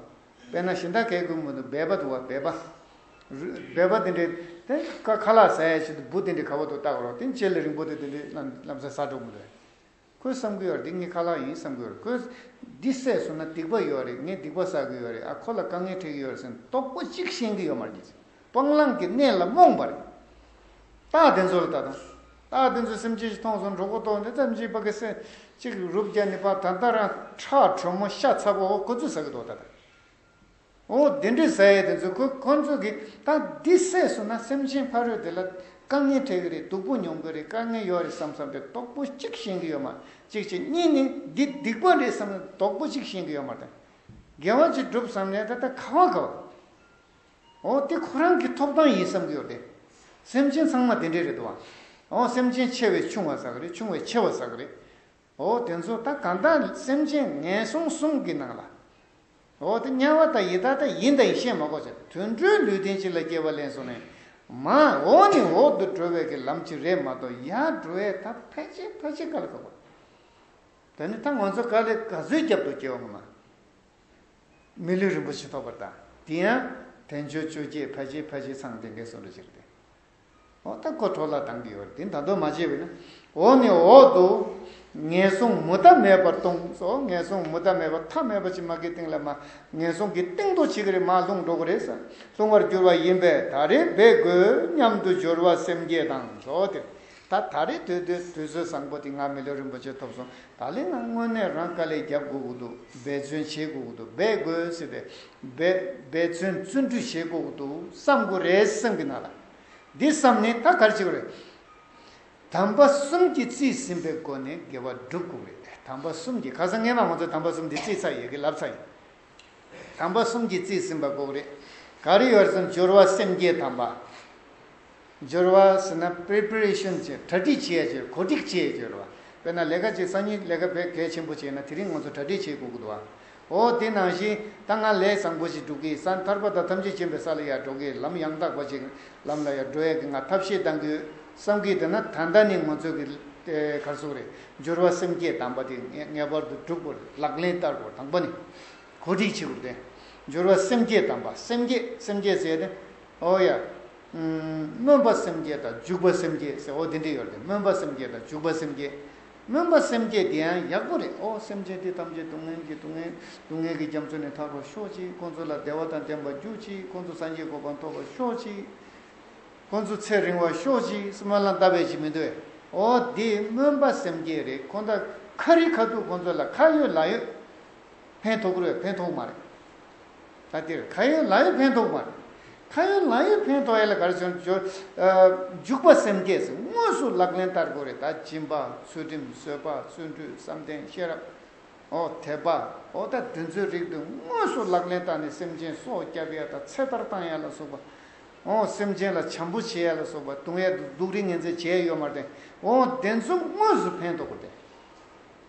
དཔེར་ན་ཤིང་རྟ་གས་གུར་མོ་དུ་སྦས་པ་དུ་བ་སྦས་པ། སྦས་པ་དེ་འདྲའི་དེ་ཀ་ཁ་ལག་ཟ་ཡའི་ཆེད་དུ་སྦུ་དེ་འདྲའི་ཁ་བ་དུ་བཏགས་རོགས་དེ་མཆེད་ལ་རིང་པོ་དེ་དེ་འདྲའི་ལམ་ཟ་ཟ་འགྲོ་གི་རེད། ཁོས་བསམ་གི་ཡོད་རེད་འདི་ངའི་ཁ་ལག་ཡིན་བསམ་གི་ཡོད་རེད་ཁོས། འདི་བསད་སོང་ན་སྡིག་པ་ཡོད་རེད་ངས་སྡིག་པ་བསགས་ཀྱི་ཡོད་རེད་ཨ་ཁོ་ལ་དཀའ་ངལ་འཕྲད་ཀྱི་ཡོད་རེད་སེམས་རྟོགས་པོ་གཅིག་ཤེས་ཀྱི་ཡོད་མ་རེད། སྤང་བླང་གི་གནས་ལ་རྨོངས་པར་རིགས། རྟགས་དེ་ཚོ་ལ་ལྟ་དང། རྟགས་དེ་ཚོས་སེམས་ཅན་ཞིག་མཐོང་སོང་འགྲོ་ཀུན་རྟོག་འདི་ལྟར་འཇིག་པ་གི་སེམས་ཅིག་རུབ་བརྒྱལ་ནས་པ་ད་ལྟ་རང་ཁྲག་དྲོན་མོ་ཤ་ཚ་པོ་འོ་ཁོ་ཚོས་ཟ་གི་འདུག་ད་ལྟ་འོ་དེ་འདྲའི་ཟ་ཡས་དེ་ཚོས་ཁོ་ཁོ་ཚོས་གི་རྟགས་འདི་སད་སོང་ན་སེམས་ཅན་ཕ་རོལ་དེ་ལ་དཀའ་ངལ་འཕྲད་གི་རེད་སྡུག་པོ་མྱོང་གི་རེད་དཀའ་ངལ་ཡོད་རེད་བསམ་བསམ་པའི་དོག་པོ་གཅིག་ཞེན་གི་ཡོད་མ་གཅིག་ཆེ་གཉིས་ནི་འདི་སྡིག་པ་རེད་བསམ་ནས་དོག་པོ་གཅིག་ཞེན་གི་ཡོད་མ་དང། དགེ་བ་གཅིག་བསྒྲུབ་བསམ་ནས་ད་ལྟ་ཁ་བ་ག་བ། ཨོ་དེ་ཁོ་རང་གི་ཐོབ་ཐང་ཡིན་བསམ་གྱི་ཡོད་རེད། སེམས་ཅན་ཚང་མ་དེ་འདྲས་རེད་དོ། ཨོ་སེམས་ཅན་ཆེ་བས་ཆུང་བ་ཟ་གི་རེད་ཆུང་བས་ཆེ་བ་ཟ་གི་རེད། ཨོ་དེ་ཚོ་ད་གང་དག་སེམས་ཅན་ངན་སོང་གསུམ་གྱི་ནང་ལ། ཨོ་དེ་དམྱལ་བ་དང་ཡི་དྭགས་དང་ཡིན་དང་ཡིན་ཤེས་མ་གོ་ཆ་དུད་འགྲོའི་ལུས་རྟེན་ཅིག་ལ་སྐྱེ་བ་ལེན་སོང་ནས། མ་འོ་ནི་འོག་ཏུ་འགྲོ་བའི་གི་ལམ་ཅིག་རེད་མ་གཏོགས་ཡར་འགྲོ་བའི་ད་ཕལ་ཆེར་ཕལ་ཆེར་ག་ལ་ཁག་པ། ད་ནི་ད་ང་ཚོ་ག་ལས་ག་ཚོད་རྒྱབ་ཏུ་སྐྱེ་བ་ངོ་མ། མི་ལུས་རིན་པོ་ཆེ་ཐོགས་པར་གདའ། དེ་ཡང་དལ་འབྱོར་བཅོ་བརྒྱད་ཕལ་ཆེར་ཕལ་ཆེར་ཚང་དེ་འགའི་སོ་འགྲོ་ཕྱིར་བདེ། འོ་ད་ཁོ་གྲོ་ལ་དང་གི་ཡོད་དེ་ད་དོ་མ་བྱེད་བས་ན། འོ་ནི་འོག་ཏུ། ངན་སོང་མུ་མཐའ་མེད་པར་སྟོང་སོ་ངན་སོང་མུ་མཐའ་མེད་པར་ཐ་མལ་པ་ཕྱི་མ་གི་སྟེང་ལ་མ། ངན་སོང་གི་སྟེང་དུ་ཕྱི་གི་རེ་མ་ལྷུང་འགྲོ་གི་རེ་ས་ལྷུང་བར་འགྱུར་བ་ཡིན་པས་ད་རེ་འབད་དགོས་སྙམ་དུ་སྦྱོར་བ་སེམས་བསྐྱེད་དང་སོ་དེར། ད་ད་རེ་དོད་དོད་དུས་ཚོད་བཟང་པོ་དེ་ང་མི་ལུས་རིན་པོ་ཆེ་ཐོབ་སོང་ད་ལན་ང་དངོས་གནས་རང་དཀའ་ལས་རྒྱབ་དགོས་ཀྱི་འདུག་འབད་བརྩོན་བྱེད་དགོས་ཀྱི་འདུག་འབད་དགོས་ཟེར་བས། འབད་བརྩོན་བརྩོན་འགྲུས་བྱེད་དགོས་ཀྱི་འདུག་བསམ་དགོས་རེད་བསམ་གྱི་ན་ལ། འདི་བསམ་ནས་ད་གར་བྱེད་དགོས་རེད། དམ་པ་གསུམ་གྱིས་བརྩིས་ཟིན་པའི་སྒོ་ནས་དགེ་བ་བསྒྲུབ་དགོས་རེད། དམ་པ་གསུམ་གྱིས་ཁ་སང་སྔན་མ་ང་ཚོ་དམ་པ་གསུམ་འདི་བརྩིས་ཚར་ཡོད་ཀྱི་ལབ་ཚར་ཡོད། དམ་པ་གསུམ་གྱིས་བརྩིས་ཟིན་པ་དགོས་ཀྱི་རེད། ག་རེ་ཡོད་རེད་བསམ་སྦྱོར་བ་སེམས་བསྐྱེད་དམ་པ། སྦྱོར་བ་ཟེར་ན preparation བྱེད་གྲ་སྒྲིག་བྱེད་སྦྱོར་གོ་སྒྲིག་བྱེད་སྦྱོར་བ། དཔེར་ན་ལས་ཀ་གཅིག་སང་ཉིན་ལས་ཀ་བེད་གལ་ཆེན་པོ་བྱས་ན་དེ་རིང་ང་ཚོ་གྲ་སྒྲིག་བྱེད་དགོས་ཀྱི་འདུག་ཨ། ཨོ་དེ་ནང་བཞིན་ད་ང་ལས་བཟང་པོ་ཞིག་སྒྲུབ་ཀྱིས་ས་ཐར་པ་དང་ཐམས་ཅད་མཁྱེན་པའི་ས་ལ་ཡར་འགྲོ་གི་ལམ་ཡང་དག་པ་ཅིག་ལམ་ལ་ཡར་འགྲོ་ཡ་གི་ང་ཐབས་ཤེས་གཏང་གི་བསམ་གྱིས་འདུག་ན་ད་ལྟ་ནི་ང་ཚོས་ཀྱི་གར་སོང་རེད་སྦྱོར་བ་སེམས་བསྐྱེད་དམ་པ་དེ་ངེས་པར་དུ་སྒྲུབ་དགོས་རེད་ལག་ལེན་བསྟར་དགོས་དང་པོ་ནི་གོ་སྒྲིག་བྱེད་དགོས་རེད་སྦྱོར་བ་སེམས་བསྐྱེད་དམ་པ་སེམས་བསྐྱེད་སེམས་བསྐྱེད་ཟེར་ནི། ཨོ་ཡ། སྨོན་པ་སེམས་བསྐྱེད་དང་འཇུག་པ་སེམས་བསྐྱེད་ཟེར་འོ་དེ་འདྲས་ཡོད་རེད་སྨོན་པ་སེམས་བསྐྱེད་དང་འཇུག་པ་སེམས་བསྐྱེད། སྨོན་པ་སེམས་བསྐྱེད་དེ་ཡང་ཡག་པོ་རེད་ཨོ་སེམས་ཅན་དེ་ཐམས་ཅད་སྡུག་བསྔལ་གྱི་སྡུག་བསྔལ་སྡུག་བསྔལ་གྱི་རྒྱ་མཚོ་ནས་ཐར་བར་ཤོག་ཅིག་ཁོང་ཚོ་ལ་བདེ་བ་དང་ལྡན་པ་རྒྱུག་ཅིག་ཁོང་ཚོ་སངས་རྒྱས་གོ་འཕང་ཐོབ་པར་ཤོག་ཅིག་ཁོང་ཚོ་ཚེ་རིང་བར་ཤོག་ཅིག་སྨོན་ལམ་ལྟ་བས་ཅི་མི་འདོད་ཨོ་དེ་སྨོན་པ་སེམས་བསྐྱེད་རེད་ཁོང་ད་ཁ་རི་ཁ་ཐུག་ཁོང་ཚོ་ལ་ཁ་ཡོད་ལག་ཡོད་ཕན་ཐོག་རེད་ཕན་ཐོག་མ་རེད། ད་འདིར་ཁ་ཡོན་ལག་ཡོད་ཕན་ཐོགས་མ་རེད། ཁ་ཡོན་ལག་ཡོད་ཕན་ཐོགས་ཡ་ལ་ག་རེ་བྱུང་འཇུག་པ་སེམས་བསྐྱེད་ཟེར་དངོས་སུ་ལག་ལེན་བསྟར་དགོས་རེད་ད་སྦྱིན་པ་ཚུལ་ཁྲིམས་བཟོད་པ་བརྩོན་འགྲུས་བསམ་གཏན་ཤེས་རབ་འོ་དད་པ་འོ་ད་འདི་ཚོའི་རིགས་འདི་དངོས་སུ་ལག་ལེན་བསྟར་ནས་སེམས་ཅན་སྲོག་བསྐྱབས་ཡ་ད་ཚེ་ཐར་བཏང་ཡ་ལ་སོགས་པ་འོ་སེམས་ཅན་ལ་བྱམས་པོ་བྱས་ཡ་ལ་སོགས་པ་གདུང་ཡ་དུག་རིགས་ངན་ཚད་བྱས་ཡོད་མ་རེད་འོ་དེ་ཚོ་དངོས་སུ་ཕན་ཐོགས་རེད།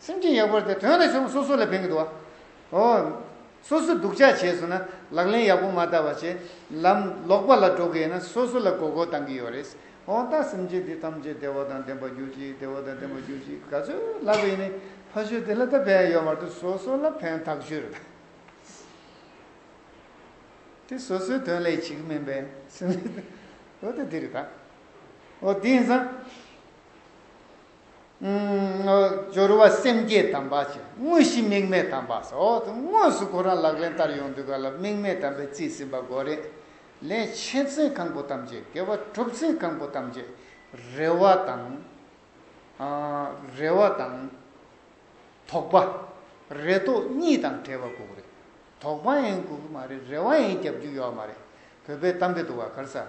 སེམས་ཅན་ཡག་པོར་དེ་དོན་ལ་ཆོམ་སོ་སོ་ལ་ཕན་གི་འདུག་བ། ཨོ། སོ་སོ་སྡུག་ཅག་བྱས་སོང་ན་ལག་ལེན་ཡག་པོ་མ་བསྟར་བ་བྱས་ལམ་ལོག་པ་ལ་འགྲོ་གི་ཡིན་ན་སོ་སོ་ལ་གོ་གོ་བཏང་གི་ཡོད་རེད། ཨོང་ཏང་སེམས་ཅན་འདི་ཐམས་ཅད་བདེ་བ་དང་ལྡན་པ་རྒྱུ་ཅིག་བདེ་བ་དང་ལྡན་པ་རྒྱུ་ཅིག་ག་ཚོད་ལབ་པ་ཡིན་ནི་ཕ་ཤུལ་དེ་ལ་ད་ཕན་ཡོད་མ་ཐུབ་སོ་སོ་ལ་ཕན་ཐག་ཆོད་རེད། དེ་སོ་སོའི་དོན་ལས་བྱེད་ཀྱི་མིན་པས་སེམས་ཅན་དེ་ཨོ་དེ་དེ་རེད་ད། ཨོ་དེ་ཡིན་ཙང། སྦྱོར་བ་སེམས་བསྐྱེད་དམ་པ་ཆེ་དངོས་གཞི་དམིགས་མེད་དམ་པ་སོགས་དུས་དངོས་སུ་ཁོ་རང་ལག་ལེན་བསྟར་ཡོང་དུས་ག་ལ་དམིགས་མེད་དམ་པའི་རྩིས་ཟིན་པ་འགོ་རེད། ལན། ཆེ་བཙན་གང་པོ་ཐམས་ཅད་དགེ་བ་གྲུབ་ཚུལ་གང་པོ་ཐམས་ཅད་རེ་བ་དང། རེ་བ་དང། དོགས་པ། རེ་དོགས་གཉིས་དང་བྲལ་བ་གུག་རེད། དོགས་པ་ཡིན་གུག་གི་མ་རེད་རེ་བ་ཡིན་རྒྱབ་རྒྱུ་ཡོད་མ་རེད་བོད་པའི་གཏམ་དཔེ་དུ་བ་གར་ས།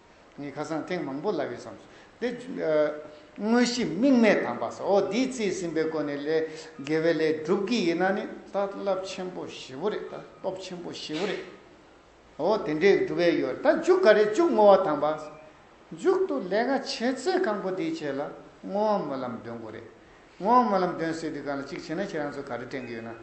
ངས་ཁ་སང་ཐེངས་མང་པོ་ལབ་ཡོད་བསམས་སོ། དེ། དངོས་གཞི་དམིགས་མེད་དམ་པ་སོ། འོ་འདིའི་རྩིས་ཟིན་པའི་སྒོ་ནས་ལས་དགེ་བའི་ལས་སྒྲུབ་ཀྱི་ཡིན་ན་ནི་ད་རླབས་ཆེན་པོ་བཞི་བོ་རེད་ད་སྟོབས་ཆེན་པོ་བཞི་བོ་རེད། འོ་དེ་འདྲའི་སྒྲུབ་བས་ཡོད་ད་མཇུག་ག་རེ་བཅུག་བསྔོ་བ་དམ་པ། མཇུག་ཏུ་ལས་ཀ་བྱེད་ཚད་གང་པོ་འདི་བྱས་ལ་བསྔོ་བ་སྨོན་ལམ་འདོན་དགོས་རེད། ངོ་མ་ལམ་སྟོན་ཟེར་དུས་གང་ལ་གཅིག་བྱེད་ན་ཁྱེད་རང་ཚོས་ག་རེ་དྲན་གི་ཡོད་ན།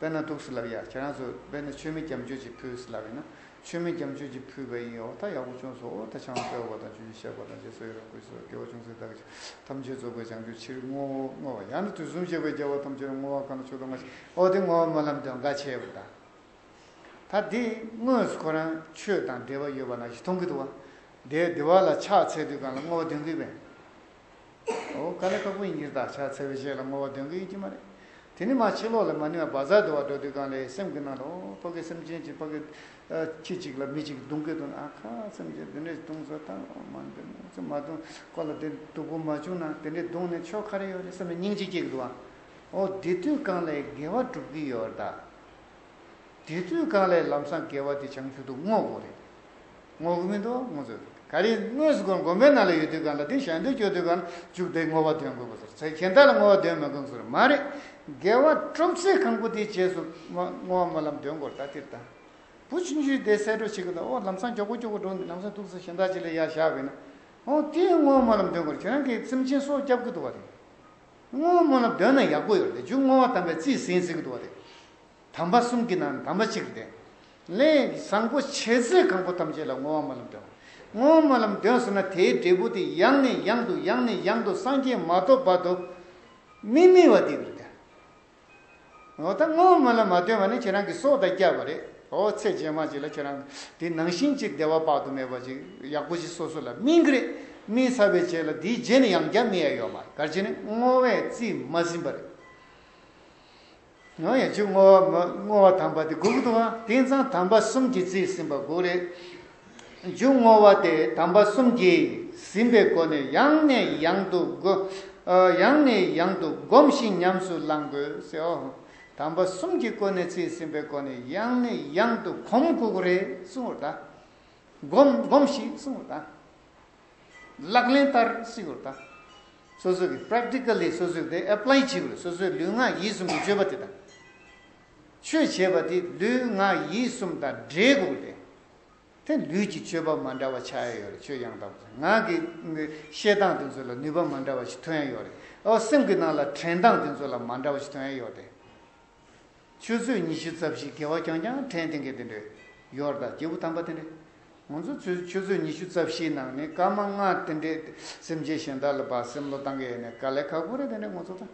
དཔེར་ན་དུག་སེལ་ལབ་ཡ་ཁྱེད་རང་ཚོས་དཔེར་ན་ཆུ་མིག་རྒྱབ་མཆོད་ཅིག་ཕུལ་ཟེར་ལབ་ཡིན་ན་ཆུ་མིག་རྒྱབ་མཆོད་ཅིག་ཕུལ་བས་ཡིན་འོ་ད་ཡག་པོ་བྱུང་སོང་འོ་ད་ཆང་དཔེ་འོ་བ་དང་ཆུ་ཆེན་བཤགས་པ་དང་རྗེས་སུ་ཡི་རང་བསྐུལ་བྱེད་པ་དགེ་བ་ཅུང་ཟད་བདག་གིས་ཐམས་ཅད་རྫོགས་པའི་བྱང་ཆུབ་ཕྱིར་བསྔོ་བ་ཡང་ན་དུས་གསུམ་གཅིག་པའི་རྒྱལ་བ་ཐམས་ཅད་ལ་བསྔོ་བ་གང་ལ་ཆུ་དང་ངོ་ཤེས་འོ་དེ་ངོ་མ་ལམ་སྟོན་འགའ་བྱས་པ་དང། ད་དེ་དངོས་སུ་ཁོ་རང་ཆོས་དང་འབྲེལ་བ་ཡོད་པ་ན་ཞིག་མཐོང་གི་འདུག་བ་དེའི་བདེ་བ་ལ་ཕྱག་འཚལ་དུས་གང་ལ་བསྔོ་བ་འདོན་གི་བས། ཀ་ལེ་དཀར་པོ་ཡིན་གྱི་བདག་ཅག་འཚེ་བའི་གཞས་ལ་བསྔོ་བ་འདོན་གྱི་ཡོད་ཀྱི་མ་རེད། དེ་ནི་མ་ཕྱི་ལོག་ལས་མ་ནི་བ་བ་ཛ་དུ་བ་འགྲོ་དུས་གང་ལས་སེམས་ཀྱི་ནང་ལ་ཨོ་ཕ་གི་སེམས་ཅན་གྱི་ཕ་གི་ཁྱི་གཅིག་ལ་མི་གཅིག་རྡུང་གི་འདུག་ཨ་ཁ་སེམས་ཅན་འདི་འདྲ་ཞིག་རྡུང་བཟོ་དང་མ་འདི་འདྲ་ཞིག་མ་རྡུང་ཁོ་ལ་དེ་སྡུག་པོ་མ་བྱུང་ན་དེ་འདྲས་རྡུང་ནས་ཆོ་ག་རེ་ཡོད་རེད་བསམ་ནས་སྙིང་རྗེ་སྐྱེ་གི་འདུག་ཨ་ཨོ་འདི་དུས་གང་ལས་དགེ་བ་སྒྲུབ་ཀྱི་ཡོད་རེད་ད། དེ་དུས་གང་ལས་ལམ་སང་དགེ་བ་དེ་བྱང་ཆུབ་ཏུ་བསྔོ་དགོས་རེད། བསྔོ་གི་མི་འདུག་བསྔོ་ཚོད་རེད། ག་རེ་དངོས་སུ་སྒོར་འགོ་མའི་ནང་ལ་ཡོད་དུས་གང་ལ་དེ་ཞལ་འདོན་བསྐྱོད་དུས་གང་ལ་བཅུག་དེ་བསྔོ་བ་འདོན་དགོས་པ་ཟེར། གཞན་དག་ལ་བསྔོ་བ་འདོན་མི་དགོས་ཟེར་བ་མ་རེད། དགེ་བ་གྲུབ་ཚེ་གང་པོ་དེའི་རྗེས་སུ་བསྔོ་བ་སྨོན་ལམ་འདོན་དགོས་རེད་ད་ལྟིར་དང་བུ་ཆུང་ཆུང་དེ་གསལ་སྒྲོག་བྱེད་ཀྱི་འདུག་ཨོ་ལམ་སང་མགྱོགས་པོ་མགྱོགས་པོ་འགྲོ་ནི་ལམ་སང་ཐུག་ཚེ་གཞན་དག་ཅིག་ལ་ཡར་བཞག་བས་ན་ཨོ་དེའི་བསྔོ་བ་སྨོན་ལམ་འདོན་དགོས་རེད་ཁྱེད་རང་གིས་སེམས་ཅན་སྲོག་བསྐྱབ་ཀྱི་འདུག་བ་རེད། བསྔོ་བ་སྨོན་ལམ་འདོན་ན་ཡག་པོ་ཡོད་རེད་འཇུག་བསྔོ་བ་དམ་པའི་རྩིས་ཟིན་ཟེར་གྱི་འདུག་བ་རེད། དམ་པ་གསུམ་གྱི་ནང་དམ་པ་གཅིག་གི་དེ། ལས་བཟང་པོ་བྱས་ཚེ་གང་པོ་ཐམས་ཅད་ལ་བསྔོ་བ་སྨོན་ལམ་འདོན། བསྔོ་བ་སྨོན་ལམ་འདོན་ཟེར་ན་དེའི་འབྲས་བུ་དེ་ཡང་ནས་ཡང་དུ་ཡང་ནས་ཡང་དུ་སངས་རྒྱས་མ་ཐོབ་བར་དུ་མི་དམིགས་བ་དེ་རེད། འོ་ད་བསྔོ་བ་སྨོན་ལམ་མ་འདོན་བ་ནི་ཁྱེད་རང་གི་སྲོག་དང་བསྐྱར་བ་རེད། འོ་ཚེ་རྗེས་མ་ཅིག་ལ་ཁྱེད་རང་དེ་ནང་བཞིན་ཅིག་བདེ་བ་དཔག་ཏུ་མེད་པ་ཅིག་ཡག་པོ་ཞིག་སོ་སོ་ལ་སྨིན་གི་རེད། སྨིན་ཚར་བའི་རྗེས་ལ་དེའི་རྗེས་ནས་ཡང་བསྐྱར་སྨིན་ཡ་ཡོད་མ་རེད་གལ་ཆེ་ནི་བསྔོ་བས་རྩིས་མ་ཟིན་པ་རེད། ཡང་ཡང་བྱུག་བསྔོ་བ་བསྔོ་བ་དམ་པ་དེ་དགུག་དང་དེང་སང་དམ་པ་གསུམ་གྱིས་བརྩིས་ཟིན་པ་དགུ་རེད། བྱུག་བསྔོ་བ་དེ་དམ་པ་གསུམ་གྱིས་ཟིན་པའི་སྒོ་ནས་ཡང་ནས་ཡང་དུ་ཡང་ནས་ཡང་དུ་བསྒོམ་ཞིང་ཉམས་སུ་བླང་དགོས། དམ་པ་གསུམ་གྱིས་སྐོར་ནས་བརྩིས་ཟིན་པའི་སྒོ་ནས་ཡང་ནས་ཡང་དུ་བསྒོམ་དགུ་རེད་གསུང་བ་དང། བསྒོམ་བསྒོམ་ཞིག་གསུང་བ་དང། ལག་ལེན་བསྟར་སྲིད་པར་དང། སོ་སོ་གི Practically སོ་སོས་དེ Apply བྱེད་པར་སོ་སོའི་ལུས་ངག་ཡིད་གསུམ་གྱི་སྤྱོད་པ་དེ་དང། ཆོས་བྱེད་པ་དེ་ལུས་ངག་ཡིད་གསུམ་དང་འབྲེལ་དགོས་པ་རེད། དེ་ལུས་ཀྱི་སྤྱོད་པ་མ་འདྲ་བ་ཆགས་ཡས་ཡོད་རེད་ཆོས་ཡང་དག་པ་ངག་གི་བཤད་སྟངས་དེ་ཚོ་ལ་ནུས་པ་མ་འདྲ་བ་ཞིག་ཐོན་ཡས་ཡོད་རེད། ཨོ་སེམས་ཀྱི་ནང་ལ་དྲན་སྟངས་དེ་ཚོ་ལ་མ་འདྲ་བ་ཞིག་ཐོན་ཡས་ཡོད་རེད། ཆུ་ཚོད་ཉི་ཤུ་རྩ་བཞི་བརྒལ་བ་རྐྱང་རྐྱང་ཕྲན་སྟེང་གི་དེ་འདྲའི་ཡོར་དང་སྐྱེས་བུ་དམ་པ་དེ་འདྲས། ང་ཚོ་ཚོས་ཆུ་ཚོད་ཉི་ཤུ་རྩ་བཞིའི་ནང་ནས་སྐར་མ་ལྔ་དེ་འདྲས་སེམས་ཅན་གཞན་དག་ལ་སྦ་སེམས་བློ་བཏང་གི་ཡོད་ནའི་དཀའ་ལས་ཁག་པོ་རེད་དེ་འདྲས་ངོ་ཚོ་དང།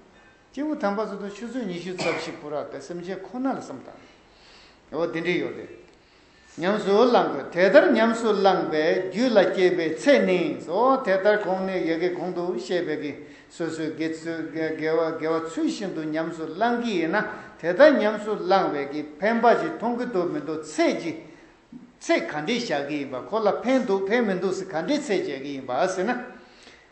སྐྱེས་བུ་དམ་པ་ཚོ་དང་ཆུ་ཚོད་ཉི་ཤུ་རྩ་བཞི་བུ་རགས་དེ་སེམས་ཅན་ཁོ་ན་ལ་སེམས་བཏང་ནས། འོ་དེ་འདྲའི་ཡོར་དེ། ཉམས་སུ་བླང་དགོས་དེ་ལྟར་ཉམས་སུ་བླངས་པས་རྒྱུད་ལ་སྐྱེས་པའི་ཚད་ནི་སོ། དེ་ལྟར་གོང་ནས་ཡི་གེ་གོང་དུ་བཤད་པའི་གིས་སོ་སོའི་དགེ་བ་ཚུལ་བཞིན་དུ་ཉམས་སུ་བླང་གི་ཡིན་ན་དེ་ལྟར་ཉམས་སུ་བླངས་བས་ཀྱི་ཕན་འབའ་ཞིག་མཐོང་གི་འདུག་མི་འདུག་ཚད་ཀྱི་ཚད་ག་འདྲས་བཞག་གི་ཡིན་པ་ཁོ་ལ་ཕན་འདུག་ཕན་མི་འདུག་ཟེར་ག་འདྲས་ཚད་བྱས་ཀྱི་ཡིན་པ་ཟེར་ན།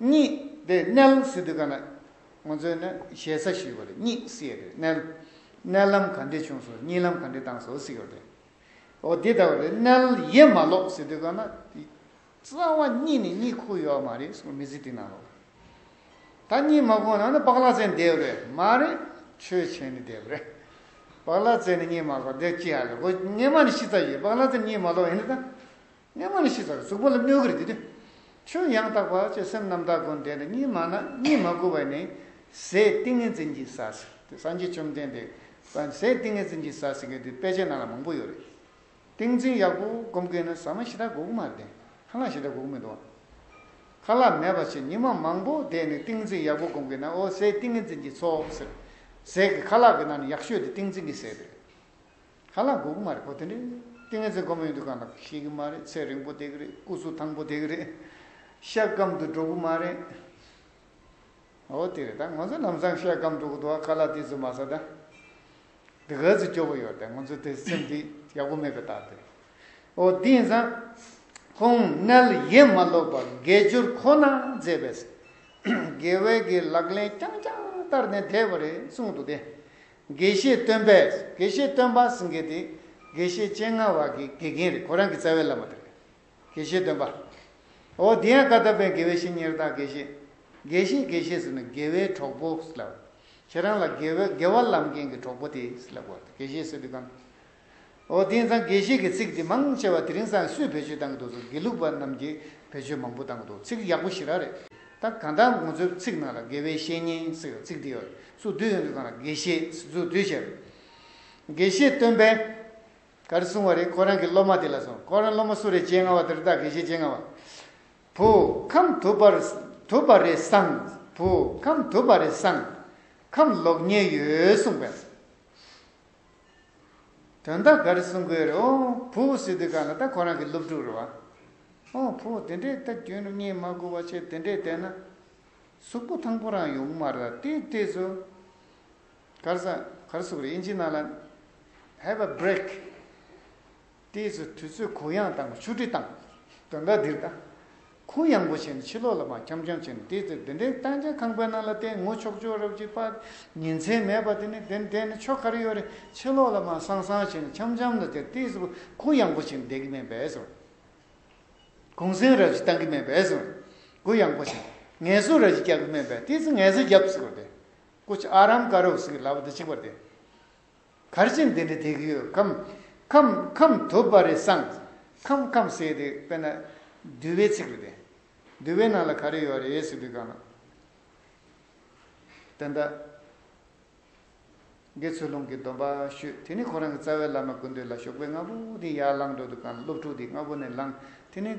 གཉིས་དེ་མནལ་སྲིད་དུས་ག་ན་ང་ཚོས་ནི་ཞེ་ས་ཞུས་པ་རེད་གཉིས་སྲིད་རེད་མནལ། མནལ་ལམ་ག་འདྲས་བྱུང་སོང་གཉིས་ལམ་ག་འདྲས་བཏང་སོང་སྲིད་རེད། འོ་འདི་ལྟ་བུ་རེད་མནལ་ཡས་མ་ལོག་སྲིད་དུས་ག་ན་རྩ་བ་གཉིས་ནས་གཉིས་ཁུག་ཡོད་མ་རེད་སོང་མི་སྲིད་དུས་ན་ལོག་ད་གཉིས་མ་ཁུག་ན་ནི་པག་ལག་རྩེ་འདེབས་རེད་མ་རེད་ཆོས་ཆེན་ནས་འདེབས་རེད། པག་ལག་རྩེ་ནས་གཉིས་མ་ལོག་འདེབས་ཅི་ཡ་རེད་སྒོ་ངེས་མ་ནི་ཤི་ཚ་ཡོད་པག་ལག་རྩེ་གཉིས་མ་ལོག་ཡིན་ན་ད། གནས་མ་ནི་ཤི་ཚར་གཟུགས་པོ་ལ་གནོད་གྱུར་གྱི་དུས། ཆོས་ཡང་དག་པ་ཅེས་སེམས་རྣམ་དག་ཀུན་བདེ་ནི་གཉིད་མ་ན་གཉིད་མ་གོ་བས་ནི་ཟས་ཏིང་ངེ་འཛིན་གྱིས་ཟ་ཟིག་དེ་སངས་རྒྱས་བཅོམ་ལྡན་འདས་ཟས་ཏིང་ངེ་འཛིན་གྱིས་ཟ་ཟིག་གི་དུས་དཔེ་ཆའི་ནང་ལ་མང་པོ་ཡོད་རེད། ཏིང་འཛིན་ཡག་པོ་སྒོམ་མཁན་ནི་ཟ་མ་ཞེ་དྲག་དགོས་ཀྱི་མ་རེད་ཁ་ལག་ཞེ་དྲག་དགོས་ཀྱི་མི་འདུག་ཨང། ཁ་ལག་མེད་པ་ཆེ་ཉི་མ་མང་པོ་བསྡད་ནས་ཏིང་འཛིན་ཡག་པོ་སྒོམ་མཁན་ན་འོ་ཟས་ཏིང་ངེ་འཛིན་གྱིས་ཚོགས་ཟེར། ཟས་ཀྱི་ཁ་ལག་གི་ནང་ནས་ཡག་ཤོས་དེ་ཏིང་འཛིན་གྱིས་ཟས་རེད། ཧ་ལག་འགུག་མ་རེད་གོ་དེ་འདྲས་ཏིང་ངེ་འཛིན་གོ་མི་འདུག་ག་ལག་ཤེས་གི་མ་རེད་ཚེ་རིང་པོ་དེ་གི་རེད་སྐུ་གཟུགས་ཐང་པོ་དེ་གི་རེད་ཤ་སྐམ་དུ་འགྲོ་གི་མ་རེད། ཨོ་དེ་རེད་ད་ང་ཚོ་ལམ་སང་ཤ་སྐམ་འགྲོ་གི་འདུག་ག་ལག་དེ་ཚོ་མ་ཟ་ད་དེ་ག་ཚོད་སྐྱོ་པོ་ཡོད་རེད་ང་ཚོ་དེ་སེམས་དེ་ཡག་པོ་མེད་པའི་རྟགས་དེ་རེད་ཨོ་དེ་ཡིན་ཙང་ཁོང་མཎྜལ་ཡེ་མ་ལོག་པར་དགེ་སྦྱོར་ཁོ་ན་མཛད་པས་དགེ་བས་ཀྱི་ལག་ལེན་རྐྱང་རྐྱང་བསྟར་ནས་བསྡད་པ་རེད་གསུངས་འདུག་དེ་དགེ་བཤེས་སྟོན་པས་དགེ་བཤེས་སྟོན་པ་ཟེར་མཁན་དེ་དགེ་བཤེས་སྤྱན་སྔ་བ་གི་དགེ་རྒན་རེད་ཁོ་རང་གི་རྩ་བའི་བླ་མ་དེ་རེད་དགེ་བཤེས་སྟོན་པ། འོ་དེ་ཡང་བཀའ་ཐོབ་པའི་དགེ་བའི་བཤེས་གཉེར་དག་དགེ་བཤེས། དགེ་བཤེས་དགེ་བཤེས་ཟེར་ནི་དགེ་བའི་གྲོགས་པོ་ཟེར་ལབ། ཁྱེད་རང་ལ་དགེ་བའི་དགེ་བ་ལམ་མཁན་གྱི་གྲོགས་པོ་དེ་ཟེར་ལབ་དགོས་རེད་དགེ་བཤེས་ཟེར་དུས་གང། ཨོ་དེང་སང་དགེ་བཤེས་ཀྱི་ཚིག་འདི་མང་ཆེ་བ་དེ་རིང་སང་སུས་བེད་སྤྱོད་བཏང་གི་འདུག་སོ་དགེ་ལུགས་པ་རྣམས་ཀྱིས་བེད་སྤྱོད་མང་པོ་བཏང་གི་འདུག་ཚིག་ཡག་པོ་ཞིག་རག་རེད་ད་གང་ལྟར་ངོ་ཚོའི་ཚིག་ནང་ལ་དགེ་བའི་བཤེས་གཉེན་ཟེར་བའི་ཚིག་འདི་ཡོད་སུ་བསྡུས་ཡོང་དུས་ཚང་ལ་དགེ་བཤེས་ཟེར་ཚུལ་བསྡུས་བྱས་རེད་དགེ་བཤེས་སྟོན་པས་ག་རེ་གསུང་བ་རེད་ཁོ་རང་གི་སློབ་མ་དེ་ལ་སོང་ཁོ་རང་སློབ་མ་སུ་རེད་སྤྱན་སྔ་བ་དེ་རེད་ད་དགེ་བཤེས་སྤྱན་སྔ་བ་བུ་ཁམས་དུ་བར་དུ་བར་རེད་སང་བུ་ཁམས་དུ་བར་རེད་སང་ཁམས་ལོག་ཉེས་ཡོད་གསུང་པས། དོན་དག་ག་རེ་གསུང་དགོས་རེད་ཨོ། བུ་བུ་སི་ཏི་ཀ་ལ་ད་ཁོ་རང་གི་སློབ་ཕྲུག་རེད་བ། ཨོ་བུ་བུ་དེ་འདྲའི་ད་རྒྱུན་རིམ་གཉིས་མ་དགོས་བ་ཆེ་དེ་འདྲས་བསྡད་ན། གཟུགས་པོ་ཐང་པོ་རང་ཡོང་གི་མ་རེད་ད་དེའི་ལྟས་སུ། གར་ས་གར་གཟུགས་རེད་ཨིན་ཇི་ནང་ལ། Have a break། ལྟས་སུ་དུས་ཚོད་གུ་ཡངས་དང་ཆུ་དྲི་དང། དོན་དག་འདིར་དང། ཁུངས་ཡངས་པོ་བྱས་ནས་ཕྱི་ལོགས་ལ་མ་འཁྱམ་འཁྱམ་བྱས་ནས་ལྟས་ཚེ་བདེན་བདེན་སྟངས་ཅན་ཁང་པའི་ནང་ལ་ལྟས་ངུ་ཆོག་ཆོག་རབ་ཀྱི་པ། ཉིན་མཚན་མེད་པ་དེ་ནི་བདེན་བདེན་ནི་ཆོ་ག་རེ་ཡོད་རེད་ཕྱི་ལོགས་ལ་མ་སང་སང་བྱས་ནས་འཁྱམ་འཁྱམ་ལ་དེར་ལྟས་སུ་ཁུངས་ཡངས་པོ་བྱས་ནས་བསྡད་གི་མེད་པས་སོ། གུང་སེང་རབ་ཀྱི་བཏང་གི་མེད་པས་སོ། གུ་ཡངས་པོ་བྱས་ནས་ངལ་གསོ་རབ་ཀྱི་རྒྱག་གི་མེད་པས་ལྟས་ཚེ་ངལ་གསོ་རྒྱབ་ཟིག་པར་བསྡད། སྐུ་ཆ་ཨ་རམ་ཀ་རོག་ཟིག་གི་ལབ་དེ་ཆིག་པར་བསྡད། གར་བྱེད་འདི་འདྲ་དེ་གི་ཡོད། ཁམས་ཁམས་དུ་བ་རེ་སངས། ཁམས་ཁམས་ཟེར་དེ་དཔེར་ན། འདུལ་བའི་ཚིག་རེད་དེ། འདུལ་བའི་ནང་ལ་ག་རེ་ཡོད་རེད་ཟེར་དུས་གང་ན། དེ་འདྲ། དགེ་ཚུལ་ལུང་གི་སྡོམ་པ་ཞུས་དེ་ནས་ཁོ་རང་གི་རྩ་བའི་བླ་མ་ཀུན་འདུས་ལ་ཞོགས་པའི་སྔ་བོ་དེ་ཡར་ལངས་འགྲོ་དུས་གང་ལ་སློབ་ཕྲུག་དེ་སྔ་བོ་ནས་ལངས་དེ་ནས།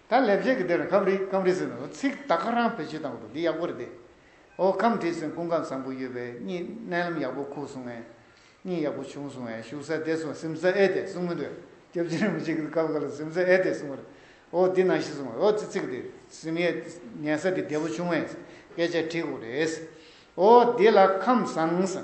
ད་ལས་བྱེད་ཀྱི་དེར་ཁམས་རིགས་ཁམས་རིགས་ཟེར་ནས་ཚིག་དག་ཁ་རང་བོད་སྤྱི་དང་པོ་འདི་ཡག་པོ་རེད་དེ། ཨོ་ཁམས་བྲིས་ཟིན་ཀུན་དགའ་བཟང་པོ་ཡོད་པས་གཉིས་གནས་ལམ་ཡག་པོ་ཁུག་སོང་ངས་གཉིས་ཡག་པོ་བྱུང་སོང་ངས་ཞུགས་ས་བདེ་སོང་སིམ་ས་ཨེ་བདེ་གསུང་མི་འདོད་སྐྱབས་རྗེ་རིན་པོ་ཆེ་གིས་སྐབས་འགའ་ལ་སིམ་ས་ཨེ་བདེ་གསུང་བར་ཨོ་འདི་ནང་ཤི་སོང་ངས་ཨོ་ཙི་ཙིག་འདི་སིམ་ཡས་ཉལ་ས་འདི་བདེ་པོ་བྱུང་ངས་སྐད་ཆ་བྲིས་ཁུག་རེད་ཨོ་འདི་ལ་ཁམས་བཟང།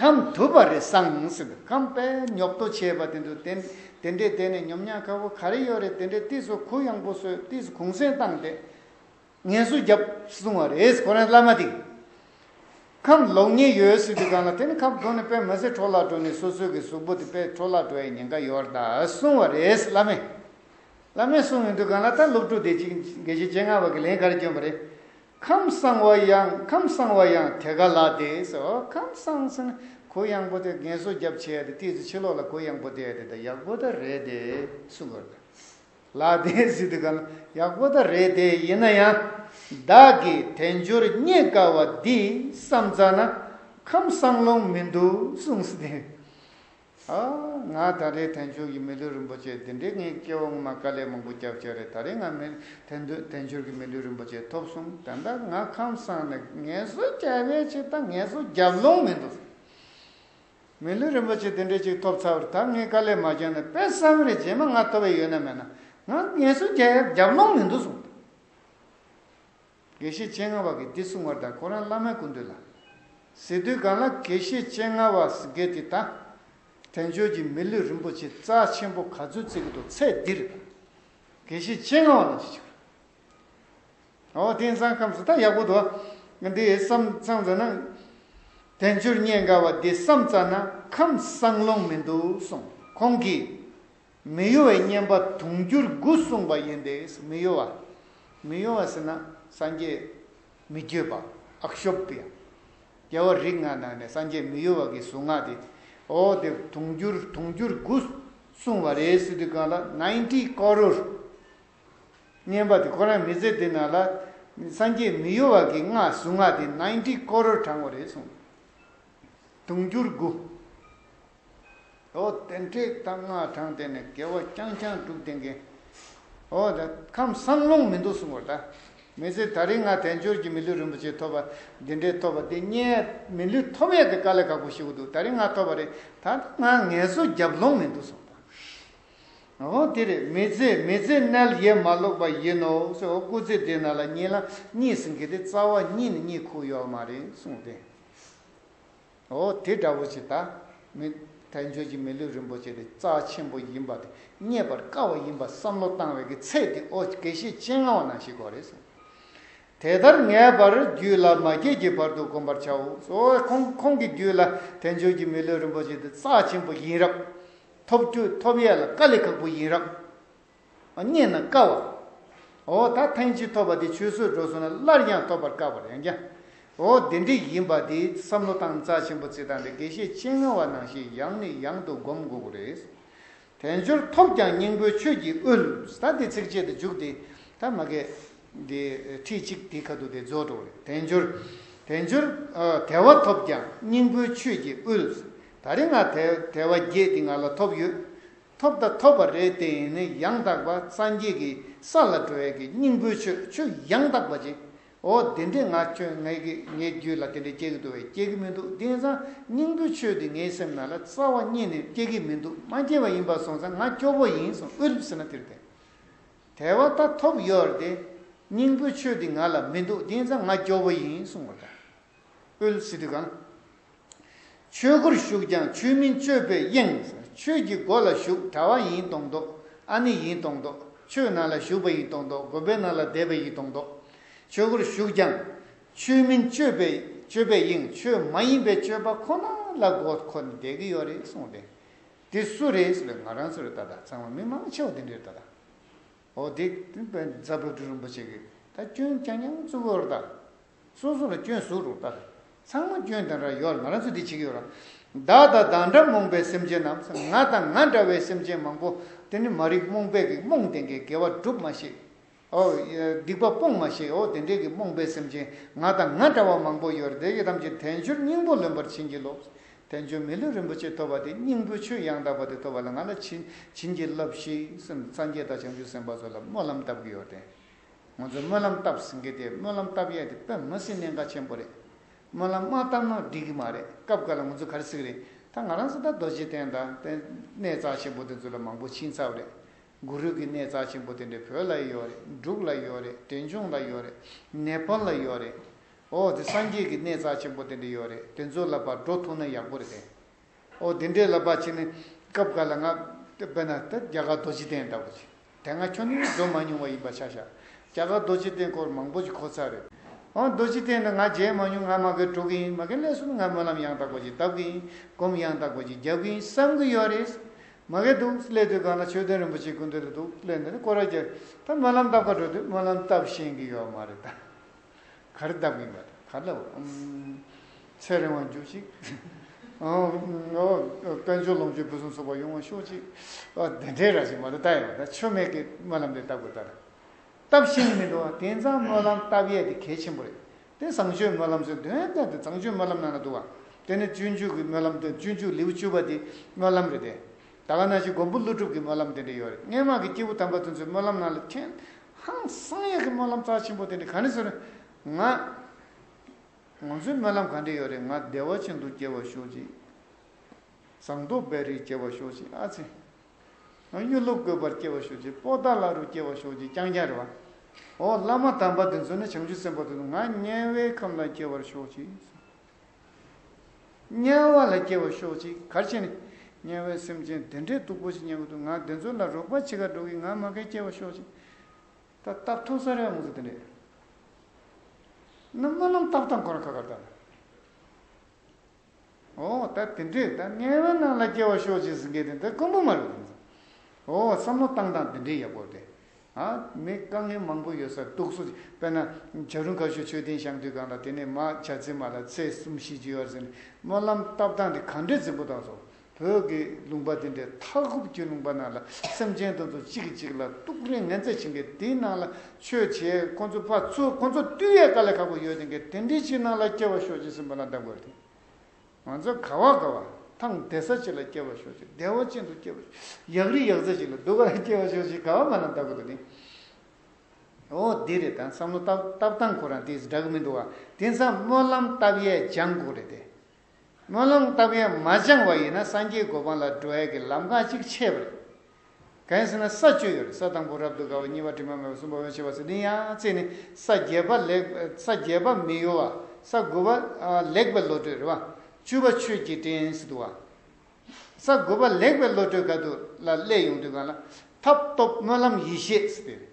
ཁམས་དུ་བ་རེ་སངས་ཟིན་འདུག་ཁམས་པས་ཉོབ་ཏོ་བྱས་པ་དེ་འདུག་དེ་དེ་འདྲས་བསྡད་ནས་ཉོབ་ཉག་ཁ་བོ་ག་རེ་ཡོད་རེད་དེ་འདྲས་དུས་སུ་གུ་ཡངས་པོ་བཟོས་དུས་སུ་གུང་སེང་བཏང་སྟེ་ངལ་གསོ་རྒྱབ་བཟུང་བ་རེད་ཁོ་རང་བླ་མ་དེ་ཁམས་ལོག་ཉེས་ཡོད་སྲིད་དུས་གང་ལ་དེ་ནི་ཁམས་གྲོ་ནས་པད་མ་ཟེར་གྲོ་ལ་གྲོ་ནས་སོ་སོའི་གི་གཟུགས་པོ་དེ་པད་གྲོ་ལ་གྲོ་ཡའི་ཉེན་ཁ་ཡོད་རེད་ད་གསུང་བ་རེད་བླ་མས་བླ་མས་གསུང་ཡོད་དུས་གང་ལ་ད་སློབ་ཕྲུག་དེ་གཅིག་དགེ་བཤེས་སྤྱན་སྔ་བ་གི་ལན་ག་རེ་བསྐྱོན་པ་རེད་ཁམས་གསང་བ་ཡང་ཁམས་གསང་བ་ཡང་དེ་ག་ལ་དེ་སོ་ཁམས་གསང་སེ་ན་གོ་ཡང་པོ་དེ་རྒན་གསོ་རྒྱབ་བྱས་ཏེ་ཏིས་ཏེ་ཕྱི་ལོག་ལ་གོ་ཡང་པོ་དེ་དེ་ཡག་པོ་ད་རེད་དེ་སུ་གོ་ད་ལ་དེ་སི་དེ་ག་ལ་ཡག་པོ་ད་རེད་དེ་ཡིན་ན་ཡང་བདག་གིས་དལ་འབྱོར་རྙེད་དཀའ་བ་འདི་བསམ་ཙང་ན་ཁམས་གསང་ལོང་མི་འདུག་གསུངས་སི་དེ། ཨ། ང་ད་རེས་དན་ཆོས་ཀྱི་མི་ལུས་རིན་པོ་ཆེ་འདི་འདྲའི་ངའི་སྐྱེ་བོ་ངོ་མ་དཀའ་ལས་མང་པོ་རྒྱབ་ཆགས་རེད་ད་རེས་ང་མི་དེ་འདོད་དན་ཆོས་ཀྱི་མི་ལུས་རིན་པོ་ཆེ་ཐོབ་སོང་ད་ལྟ་ང་ཁམས་སངས་ནས་ངལ་གསོ་རྒྱ་བས་ཆེ་ད་ངལ་གསོ་རྒྱབ་ལོང་མི་འདུག་མི་ལུས་རིན་པོ་ཆེ་དེ་འདྲའི་ཅིག་ཐོབ་ཚར་བར་ད་ངའི་དཀའ་ལས་མ་བརྒྱབ་ན་དཔེ་བསམ་རེ་རྗེས་མ་ང་ཐོབ་བས་ཡོད་ན་མེད་ན་ང་ངལ་གསོ་རྒྱ་ཡབ་རྒྱབ་ལོང་མི་འདུག་གསུངས། དགེ་བཤེས་སྤྱན་སྔ་བ་དགེ་སྡིག་བསྲུང་བར་དང་ཁོ་རང་བླ་མའི་སྐུ་མདུན་ལ། ཟེར་དུས་གང་ལ་དགེ་བཤེས་སྤྱན་སྔ་བ་དགེ་དེ་ད། དྲན་ཆོས་ཀྱི་མི་ལུས་རིན་པོ་ཆེ་རྩ་ཆེན་པོ་ག་ཚོད་བརྩིག་གི་འདུག་ཚེ་འདིར། དགེ་བཤེས་སྤྱན་སྔ་བ་ལ་ཅི་ཞིག་རེད། འོ་དེང་སང་ཁམས་སུ་ད་ཡག་པོ་འདུག་འདི་བསམ་བསམ་ཙམ་ན། དལ་འབྱོར་རྙེད་དགའ་བ་འདི་བསམ་ཙམ་ན་ཁམས་བཟང་ལོང་མི་འདུག་གསུངས། ཁོང་གིས། མི་གཡོ་བའི་བསྙེན་པ་དུང་འགྱུར་དགུ་གསུངས་པ་ཡིན་ཏེ། མི་གཡོ་བ། མི་གཡོ་བ་ཟེར་ན་སངས་རྒྱས་མི་བསྐྱོད་པ། ཨྠྀི། རྒྱལ་བ་རིགས་ལྔ་ནང་ནས་སངས་རྒྱས་མི་གཡོ་བ་གྱི་གཟུངས་སྔགས་དེ། ཨོ་དེ་དུང་འགྱུར་དུང་འགྱུར་དགུ་གསུངས་བ་རེད་སི་ཏུ་གང་ལ Ninety Crore བསྙེན་པ་དེ་ཁོ་རང་མི་ཚེ་འདི་ནང་ལ་སངས་རྒྱས་མི་གཡོ་བ་གྱི་སྔགས་གཟུངས་སྔགས་དེ Ninety Crore བགྲང་བ་རེད་གསུངས། དུང་འགྱུར་དགུ། དེ་འཕྲོས་དང་སྔགས་བགྲང་སྟེ་ནི་དགེ་བ་རྐྱང་རྐྱང་བསྒྲུབ་དེ་འགེངས། ཁམས་གསང་ལུང་མི་འདུག་གསུང་བར་གདའ། མི་ཚེ་ད་རིང་སྔ་དལ་འབྱོར་གྱི་མི་ལུས་རིན་པོ་ཆེ་ཐོབ་པ་འདི་འདྲའི་ཐོབ་པ་འདི་རྙེད། མི་ལུས་ཐོབ་ཡས་དེ་དཀའ་ལས་ཁག་པོ་ཞིག་འདུག་ད་རིང་སྔ་ཐོབ་པ་རེད་ད་ལྟ་སྔ་ངལ་གསོ་རྒྱབ་ལོང་མི་འདུག་གསུང་བར་གདའ། དེ་རེད་མི་ཚེ་མི་ཚེ་མཎྜལ་ཡས་མ་ཀློག་པ་ཡིན་ནོ་ཞེས་འོ་སྐུ་ཚེ་འདི་ན་ལ་གཉིས་ལ་གཉིས་སུ་འགལ་ཏེ་རྩ་བ་གཉིས་ནི་གཉིས་ཁུག་ཡོད་མ་རེད་གསུང་བར་གདའ། འོ་དེ་འདྲ་བོ་ཞིག་ད་མི་ཐལ་ཁྱོད་ཀྱིས་མི་ལུས་རིན་པོ་ཆེ་དེ་རྩ་ཆེན་པོ་ཡིན་པ་དེ་རྙེད་པར་དཀའ་བ་ཡིན་པ་བསམ་བློ་བཏང་བའི་གི་ཚད་དེ་ཨོ་དགེ་བཤེས་སྤྱན་སྔ་བ་ན་ཞིག་གོ་རེ་ཟུང། དེ་ལྟར་ངས་པར་རྒྱུད་ལ་མ་སྐྱེས་ཀྱི་བར་དུ་བསྒོམ་པར་བྱའོ། ཁོང་ཁོང་གི་རྒྱུད་ལ་དལ་འབྱོར་གྱི་མི་ལུས་རིན་པོ་ཆེ་དེ་རྩ་ཆེན་པོ་ཡིན་རབས། ཐོབ་རྒྱུ་ཐོབ་ཡས་ལ་དཀའ་ལས་ཁག་པོ་ཡིན་རབས། རྙེད་ན་དཀའ་བ། འོ་ད་ཐེངས་གཅིག་ཐོབ་པ་དེ་ཆུད་ཟོས་འགྲོ་སོང་ན་སླར་ཡང་ཐོབ་པར་དཀའ་བར་ཡང་སྐྱ། འོ་དེ་འདྲའི་ཡིན་པ་དེ་བསམ་བློ་བཏང་རྩ་ཆེན་པོ་བརྩི་དང་དེ་དགེ་བཤེས་སྤྱན་སྔ་བ་ནང་བཞིན་ཡང་ནས་ཡང་དུ་སྒོམ་དགོས་པོ་རེད། དལ་འབྱོར་ཐོབ་ཀྱང་སྙིང་པོའི་ཆོས་ཀྱི་དབུལ། ད་དེ་ཚིགས་བཅད་དུ་འཇུག་དེ་ད་མ་གས། དེ་ཁྲིད་གཅིག་དེའི་ཁ་ཐུག་དེ་རྫོགས་འགྲོ་བོ་རེད། དལ་འབྱོར། དལ་འབྱོར། དལ་བ་ཐོབ་ཀྱང་སྙིང་པོའི་ཆོས་ཀྱི་དབུལ། ད་རེ་ང་དལ་བ་བརྒྱད་དེ་ང་ལ་ཐོབ་ཡོད། ཐོབ་ད་ཐོབ་པ་རེད་དེ་ཡིན་ནི་ཡང་དག་པ་སངས་རྒྱས་ཀྱི་ས་ལ་འགྲོ་བའི་གི་སྙིང་པོའི་ཆོས་ཆོས་ཡང་དག་པ་ཅིག་འོ་དེ་འདྲས་ང་ཁྱོད་ངའི་གི་ངའི་རྒྱུད་ལ་དེ་འདྲས་སྐྱེ་གི་འདུག་བས་སྐྱེ་གི་མི་འདུག་དེང་སང་སྙིང་པོའི་ཆོས་འདི་ངའི་སེམས་ན་ལ་རྩ་བ་རྙེད་ནི་སྐྱེ་གི་མི་འདུག་མ་སྐྱེ་བ་ཡིན་པར་སོང་ཙང་ང་སྐྱོ་པོ་ཡིན་སོང་དབུལ་ཟེར་ན་དེར་བདེ་དེ་བ་ད་ཐོབ་ཡོད་རེད་དེ་སྙིང་པོའི་ཆོས་འདི་ང་ལ་མི་འདུག་དེང་སང་ང་སྐྱོ་པོ་ཡིན་སོང་བ་ད། ཨུལ་སི་ཏི་གང། ཆོས་སྒོར་ཞུགས་ཀྱང་ཆོས་མིན་སྤྱོད་པས་གཡེང། ཆོས་ཀྱི་སྒོ་ལ་ཞུགས་གྲྭ་བ་ཡིན་གཏོང་མདོག་ཨ་ནི་ཡིན་གཏོང་མདོག་ཆོས་ནང་ལ་ཞུགས་པ་ཡིན་གཏོང་མདོག་དགོན་པའི་ནང་ལ་བསྡད་པ་ཡིན་གཏོང་མདོག་ཆོས་སྒོར་ཞུགས་ཀྱང་ཆོས་མིན་སྤྱོད་པས་སྤྱོད་པས་གཡེང་ཆོས་མ་ཡིན་པའི་སྤྱོད་པ་ཁོ་ན་ལ་མགོ་འཁོར་ནས་བསྡད་ཀྱི་ཡོད་རེད་གསུངས་ཏེ། འདི་སུ་རེད་ཟེར་བས་ང་རང་ཚོ་རེད་ད་ལྟ་ཚང་མ་མི་མང་ཆེ་བ་འདི་འདྲ་རེད་ད་ལྟ། ཨོ་དེ་སྟེ་པད་ཉི་ཚ་བོད་སྤྲུལ་རིན་པོ་ཆེ་གིས་ད་སྐྱོན་སྐྱ་ཉང་གཙུག་ལག་རྟགས། སོ་སོ་ལ་སྐྱོན་ཟུག་རུག་ལྟར། ཚང་མ་སྐྱོན་དེ་འདྲ་ཡོད་ང་རང་ཚོ་འདི་བྱེད་ཀྱི་ཡོད་ར། བདག་དང་བདག་འདྲ་རྨོངས་པའི་སེམས་ཅན་རྣམས་སུ་ང་དང་ང་འདྲ་བའི་སེམས་ཅན་མང་པོ་དེ་ནི་མ་རིག་རྨོངས་པས་གིས་རྨོངས་དེ་འདྲའི་དགེ་བ་སྒྲུབ་མ་ཤེས། ཨོ། སྡིག་པ་སྤོང་མ་ཤེས་ཨོ་དེ་འདྲའི་གིས་རྨོངས་པའི་སེམས་ཅན་ང་དང་ང་འདྲ་བ་མང་པོ་ཡོད་ར་དེ་གིས་ཐམས་ཅད་དལ་འབྱོར་སྙིང་པོ་ལོན་པར་བྱིན་གྱིས་རློབས། བསྟན་འབྱུང་མི་ལུས་རིན་པོ་ཆེ་ཐོབ་པ་དེ་སྙིང་པོའི་ཆོས་ཡང་དག་པ་དེ་ཐོབ་པ་ལ་ང་ལ་བྱིན་བྱིན་གྱིས་བརླབས་ཤིག་སེམས་ལ་སངས་རྒྱས་དང་བྱང་ཆུབ་སེམས་དཔའ་ཚོ་ལ་སྨོན་ལམ་བཏབ་ཀྱི་ཡོད་དེ། ང་ཚོས་སྨོན་ལམ་བཏབ་ཟིན་གི་དེ་སྨོན་ལམ་བཏབ་ཡས་དེ་པད་མ་སྲིན་གནད་འགག་ཆེན་པོ་རེད། སྨོན་ལམ་མ་བཏབ་ན་འགྲིག་གི་མ་རེད་སྐབས་འགར་ལ་ང་ཚོ་གར་སིག་རེད་ད་ང་རང་ས་ད་རྡོ་རྗེ་གདན་དང་གནས་གཙགས་ཆེན་པོ་དེ་ཚོ་ལ་མང་པོ་ཕྱིན་ཚབ་རེད་གུ་རུས་ཀྱི་གནས་རྩ་ཆེན་པོ་དེ་འདྲ་བོད་ལ་ཡོད་རེད་འབྲུག་ལ་ཡོད་རེད་བྲེ་འབྱུང་ལ་ཡོད་རེད་ནེ་པལ་ལ་ཡོད་རེད། ཨོ་དེ་སངས་རྒྱས་ཀྱི་གནས་རྩ་ཆེན་པོ་དེ་འདྲ་ཡོད་རེད་དེ་ཚོ་ལ་བར་འགྲོ་ཐུབ་ན་ཡག་པོ་རེད། ཨོ་དེ་འདྲའི་ལ་བར་བྱེད་ནས་སྐབས་འགའ་ལ་ང་དཔེར་ན་ད་རྒྱ་གར་རྡོ་རྗེ་གདན་ལྟ་བུ་ཞིག་དེ་སྔ་ཁྱོད་ནས་འགྲོ་མ་མྱོང་བ་ཡིན་པ་ཆ་བཞག་རྒྱ་གར་རྡོ་རྗེ་གདན་སྐོར་མང་པོ་ཞིག་གོ་ཚར་རེད། ཨོ་རྡོ་རྗེ་གདན་འདི་ང་མཇལ་མ་མྱོང་ང་མ་གིའི་འགྲོ་གི་ཡིན་མ་གིའི་ལས་གསུམ་ང་སྨོན་ལམ་ཡང་དག་པ་ཞིག་གདབ་གི་ཡིན་སྒོམ་ཡང་དག་པ་ཞིག་རྒྱབ་གི་ཡིན་བསམ་གི་ཡོད་རེད། མ་སྐད་དུ་སླེབས་དུས་གང་ན་ཆོས་ལྡན་རིན་པོ་ཆེའི་སྐུ་འདུག་ལ་དུག་སླེབས་ནས་སྐོར་ར་རྒྱག་ད་སྨོན་ལམ་བཏབ་ཁ་འགྲོ་དུས་སྨོན་ལམ་བཏབ་ཤེས་ཀྱི་ཡོད་མ་རེད་ད། ག་རེ་བཏབ་གིན་ཡོད་ད་ག་ལ་འོང། ཚེ་རིང་བ་འགྱུར་ཅིག། དཔལ་འབྱོར་ལོངས་སྤྱོད་ཕུན་སུམ་ཚོགས་པ་ཡོང་བ་ཤོག་ཅིག། དེ་འདྲའི་ར་ཅིག་མ་རེད་ད་ཡོད་ད་ཆོས་མེད་ཀི་སྨོན་ལམ་དེ་བཏབ་དགོས་ད་རེད། སྟབས་བཞིན་མི་འགྲོ་དེང་སང་སྨོན་ལམ་བཏབ་ཡས་དེ་གལ་ཆེན་པོ་རེད་དེ་བཟང་སྤྱོད་སྨོན་ལམ་ཟེར་དོན་ལྟར་དེ་བཟང་སྤྱོད་སྨོན་ལམ་ནང་ན་འདུག་བ་དེ་ནི་སྤྱོད་འཇུག་གི་སྨོན་ལམ་དོན་སྤྱོད་འཇུག་ལེའུ་བཅུ་པ་དེ་སྨོན་ལམ་རེད་དེ། ད་ག་ན་གཞི་མགོན་པོ་ཀླུ་སྒྲུབ་ཀྱི་སྨོན་ལམ་དེ་འདྲ་ཡོད་རེད་སྔན་མ་གི་སྐྱེས་བུ་དམ་པ་དེ་ཚོའི་སྨོན་ལམ་ནང་ལ་ཁྱེད་ཧང་སང་ཡས་ཀྱི་སྨོན་ལམ་རྩ་ཆེན་པོ་དེ་འདྲ་ག་ནས་བཟོས་རེད་ང། ང་ཚོའི་སྨོན་ལམ་ག་འདྲ་ཡོད་རེད་ང་བདེ་བ་ཅན་དུ་སྐྱེ་བར་ཤོག་ཅིག། ཟངས་མདོག་བེ་རི་སྐྱེ་བར་ཤོག་ཅིག་ཨ་ཙི། གཡུ་ལོ་བཀོད་པར་སྐྱེ་བ་ཞུགས་ཀྱི་པོ་ཏཱ་ལ་རུ་སྐྱེ་བ་ཞུགས་ཀྱི་རྐྱང་རྐྱང་རེ་བ། ཨོ་བླ་མ་དམ་པ་དེ་ཚོ་ནི་བྱང་ཆུབ་སེམས་དཔའ་དེ་ཚོ་ང་དམྱལ་བའི་ཁམས་ལ་སྐྱེ་བར་ཤོག་ཅིག། དམྱལ་བ་ལ་སྐྱེ་བར་ཤོག་ཅིག་གར་བྱེད་ནི། དམྱལ་བའི་སེམས་ཅན་དེ་འདྲས་སྡུག་པོ་ཞིག་མྱང་གི་འདུག་ང་དེ་ཚོ་ལ་རོགས་པ་བྱེད་ཁར་འགྲོ་གི་ང་མ་གལ་སྐྱེ་བར་ཤོག་ཅིག། ད་རྟགས་ཐུག་ས་རེ་བ་མོ་ཚོ་དེ་འདྲས། ནི་སྨོན་ལམ་རྟགས་དང་གོ་ར་ཁ་ཁར་དར། ཨོ་ད་དེ་འདྲས་ད་ངའི་བའི་ནང་ལ་སྐྱེ་བ་ཤོག་ཅེས་ཟེར་མཁན་དེ་འདི་དཀོན་པོ་མ་རེད་དམ། ཨོ་བསམ་བློ་བཏང་སྟངས་དེ་འདྲས་ཡག་པོ་རེད། ཨ་མི་དཀའ་ངལ་མང་པོ་ཡོད་ས་འདུག་སོ་དཔེར་ན་བྱ་རུང་ཁ་ཤོ་ཆོས་ལྡན་ཞང་དུས་སྒང་ལ་དེ་ནས་མ་བྱ་ཚེ་མ་ལ་ཚེས་གསུམ་བཞི་བཅུ་ཡར་ཟེར་ནས་སྨོན་ལམ་བཏབ་སྟངས་དེ་ག་འདྲས་འཛིན་པོ་དང་སོ་བོད་ཀྱི་ལུང་པ་དེ་འདྲའི་མཐའ་འཁོབ་ཀྱི་ལུང་པ་རྣམས་ལ་སེམས་ཅན་དང་དུ་གཅིག་གིས་གཅིག་ལ་གཏུགས་རིང་ངན་ཚད་བྱིན་གྱི་དེའི་ནང་ལ་ཆོས་བྱེད་ཁོ་ཚོ་ཕ་ཚོས་ཁོ་ཚོ་དུས་ཡས་ཀ་ལས་ཁག་པོ་ཡོད་དེ་གས་དེ་འདྲའི་ཆེ་ནང་ལ་སྐྱེ་བ་ཤོག་ཅིག་སེམས་པ་ལ་བདག་དགོས་ཏེ། ང་ཚོ་ག་བ་ག་བ་ཐང་བདེ་ས་ཅིག་ལ་སྐྱེ་བ་ཤོག་ཅིག་བདེ་བ་ཅན་དུ་སྐྱེ་བ་ཤོག་ཅིག་ཡག་རིགས་ཡག་རྩལ་ཅིག་ལ་སྡུག་ག་ལ་སྐྱེ་བ་ཤོག་ཅིག་ག་བ་མ་ལ་བདག་དགོས་ཏེ། འོ་འདི་རེད་ད་བསམ་བློ་བཏབ་བཏབ་སྟངས་ཁོ་རང་དེས་འདྲ་གི་མི་འདུག་བ་དེ་མཚམས་སྨོན་ལམ་བཏབ་ཡས་སྦྱང་དགོས་རེད་དེ། སྨོན་ལམ་བཏབ་ཡན་མ་སྦྱངས་བ་ཡིན་ན་སངས་རྒྱས་གོ་འཕང་ལ་འགྲོ་ཡས་ཀྱི་ལམ་ཁ་གཅིག་ཆད་པ་རེད། གན་ཟེར་ན་ས་བཅུ་ཡོད་རེད་ས་དང་པོ་རབ་ཏུ་དགའ་བ་གཉིས་པ་དྲི་མ་མེད་པ་གསུམ་པ་འོད་ཆེ་བ་ཟེར་དོན་ཡང་རྩེ་ནི་ས་བརྒྱད་པ་ལེགས་ས་བརྒྱད་པ་མི་གཡོ་བ་ས་དགུ་པ་ལེགས་པའི་བློ་གྲོས་རེད། བཅུ་པ་ཆོས་ཀྱི་སྤྲིན་སི་ཏུ་བ། ས་དགུ་པ་ལེགས་པའི་བློ་གྲོས་ག་དུ་ལ་སླད་ཡོང་དུས་གང་ལ་ཐབས་སྟོབས་སྨོན་ལམ་ཡེ་ཤེས་སི་ཏུ་རེད།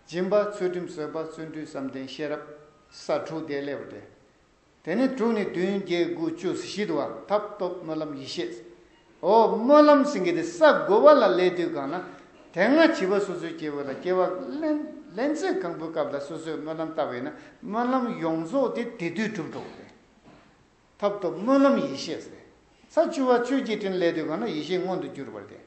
སྦྱིན་པ་ཚུལ་ཁྲིམས་བཟོད་པ་བརྩོན་འགྲུས་བསམ་གཏན་ཤེས་རབ་ས་དྲུག་དེ་སླད་པ་རེད། དེ་ནས་དྲུག་ནི་བདུན་བརྒྱད་དགུ་བཅུ་ཟི་ཤིད་བར་ཐབས་སྟོབས་སྨོན་ལམ་ཡེ་ཤེས། འོ་སྨོན་ལམ་སེང་གེ་དེ་ས་བགོ་བ་ལ་ལས་དུས་གང་ན་དེ་སྔ་བྱིས་པ་སོ་སོའི་སྐྱེ་བོ་ལ་སྐྱེ་བ་ལེན་ཚེ་གང་བུའི་སྐབས་ལ་སོ་སོས་སྨོན་ལམ་བཏབ་བས་ན་སྨོན་ལམ་ཡོངས་རྫོགས་དེ་དེ་དུས་གྲུབ་འགྲོ་བས་ཐབས་སྟོབས་སྨོན་ལམ་ཡེ་ཤེས། ས་བཅུ་བ་ཆོས་ཀྱི་སྤྲིན་ལས་དུས་གང་ན་ཡེ་ཤེས་མངོན་དུ་གྱུར་པར་ཏེ།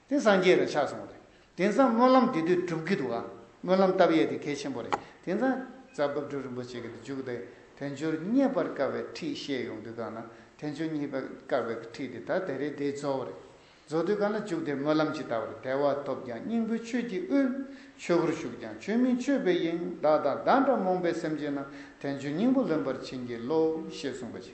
དེ་སངས་རྒྱས་ལ་ཆགས་སོང་བ་རེད། དེང་སང་སྨོན་ལམ་འདི་དུས་གྲུབ་ཀྱི་འདུག་ཨ། སྨོན་ལམ་བཏབ་ཡས་དེ་གལ་ཆེན་པོ་རེད། དེང་སང། རྩ་བབ་སྒྲུབ་རིན་པོ་ཆེ་གི་འཇུག་དེ་དལ་འབྱོར་རྙེད་པར་དཀའ་བའི་ཁྲིད་བཤད་ཡོང་དུས་གང་ན་དལ་འབྱོར་རྙེད་པར་དཀའ་བའི་ཁྲིད་དེ་ད་དེ་རེད་དེ་རྫོགས་བ་རེད། རྫོགས་དུས་གང་ན་འཇུག་དེ་སྨོན་ལམ་ཇི་ལྟ་བར་དལ་བ་ཐོབ་ཀྱང་སྙིང་པོའི་ཆོས་ཀྱི་དབུས། ཆོས་སྒོར་ཞུགས་ཀྱང་ཆོས་མིན་ཆོས་པའི་དབྱིངས་བདག་དང་བདག་འདྲ་རྨོངས་པའི་སེམས་ཅན་རྣམས་དལ་འབྱོར་སྙིང་པོ་ལོན་པར་བྱིན་གྱིས་རློབས་ཞེས་གསུངས་པ་ཇི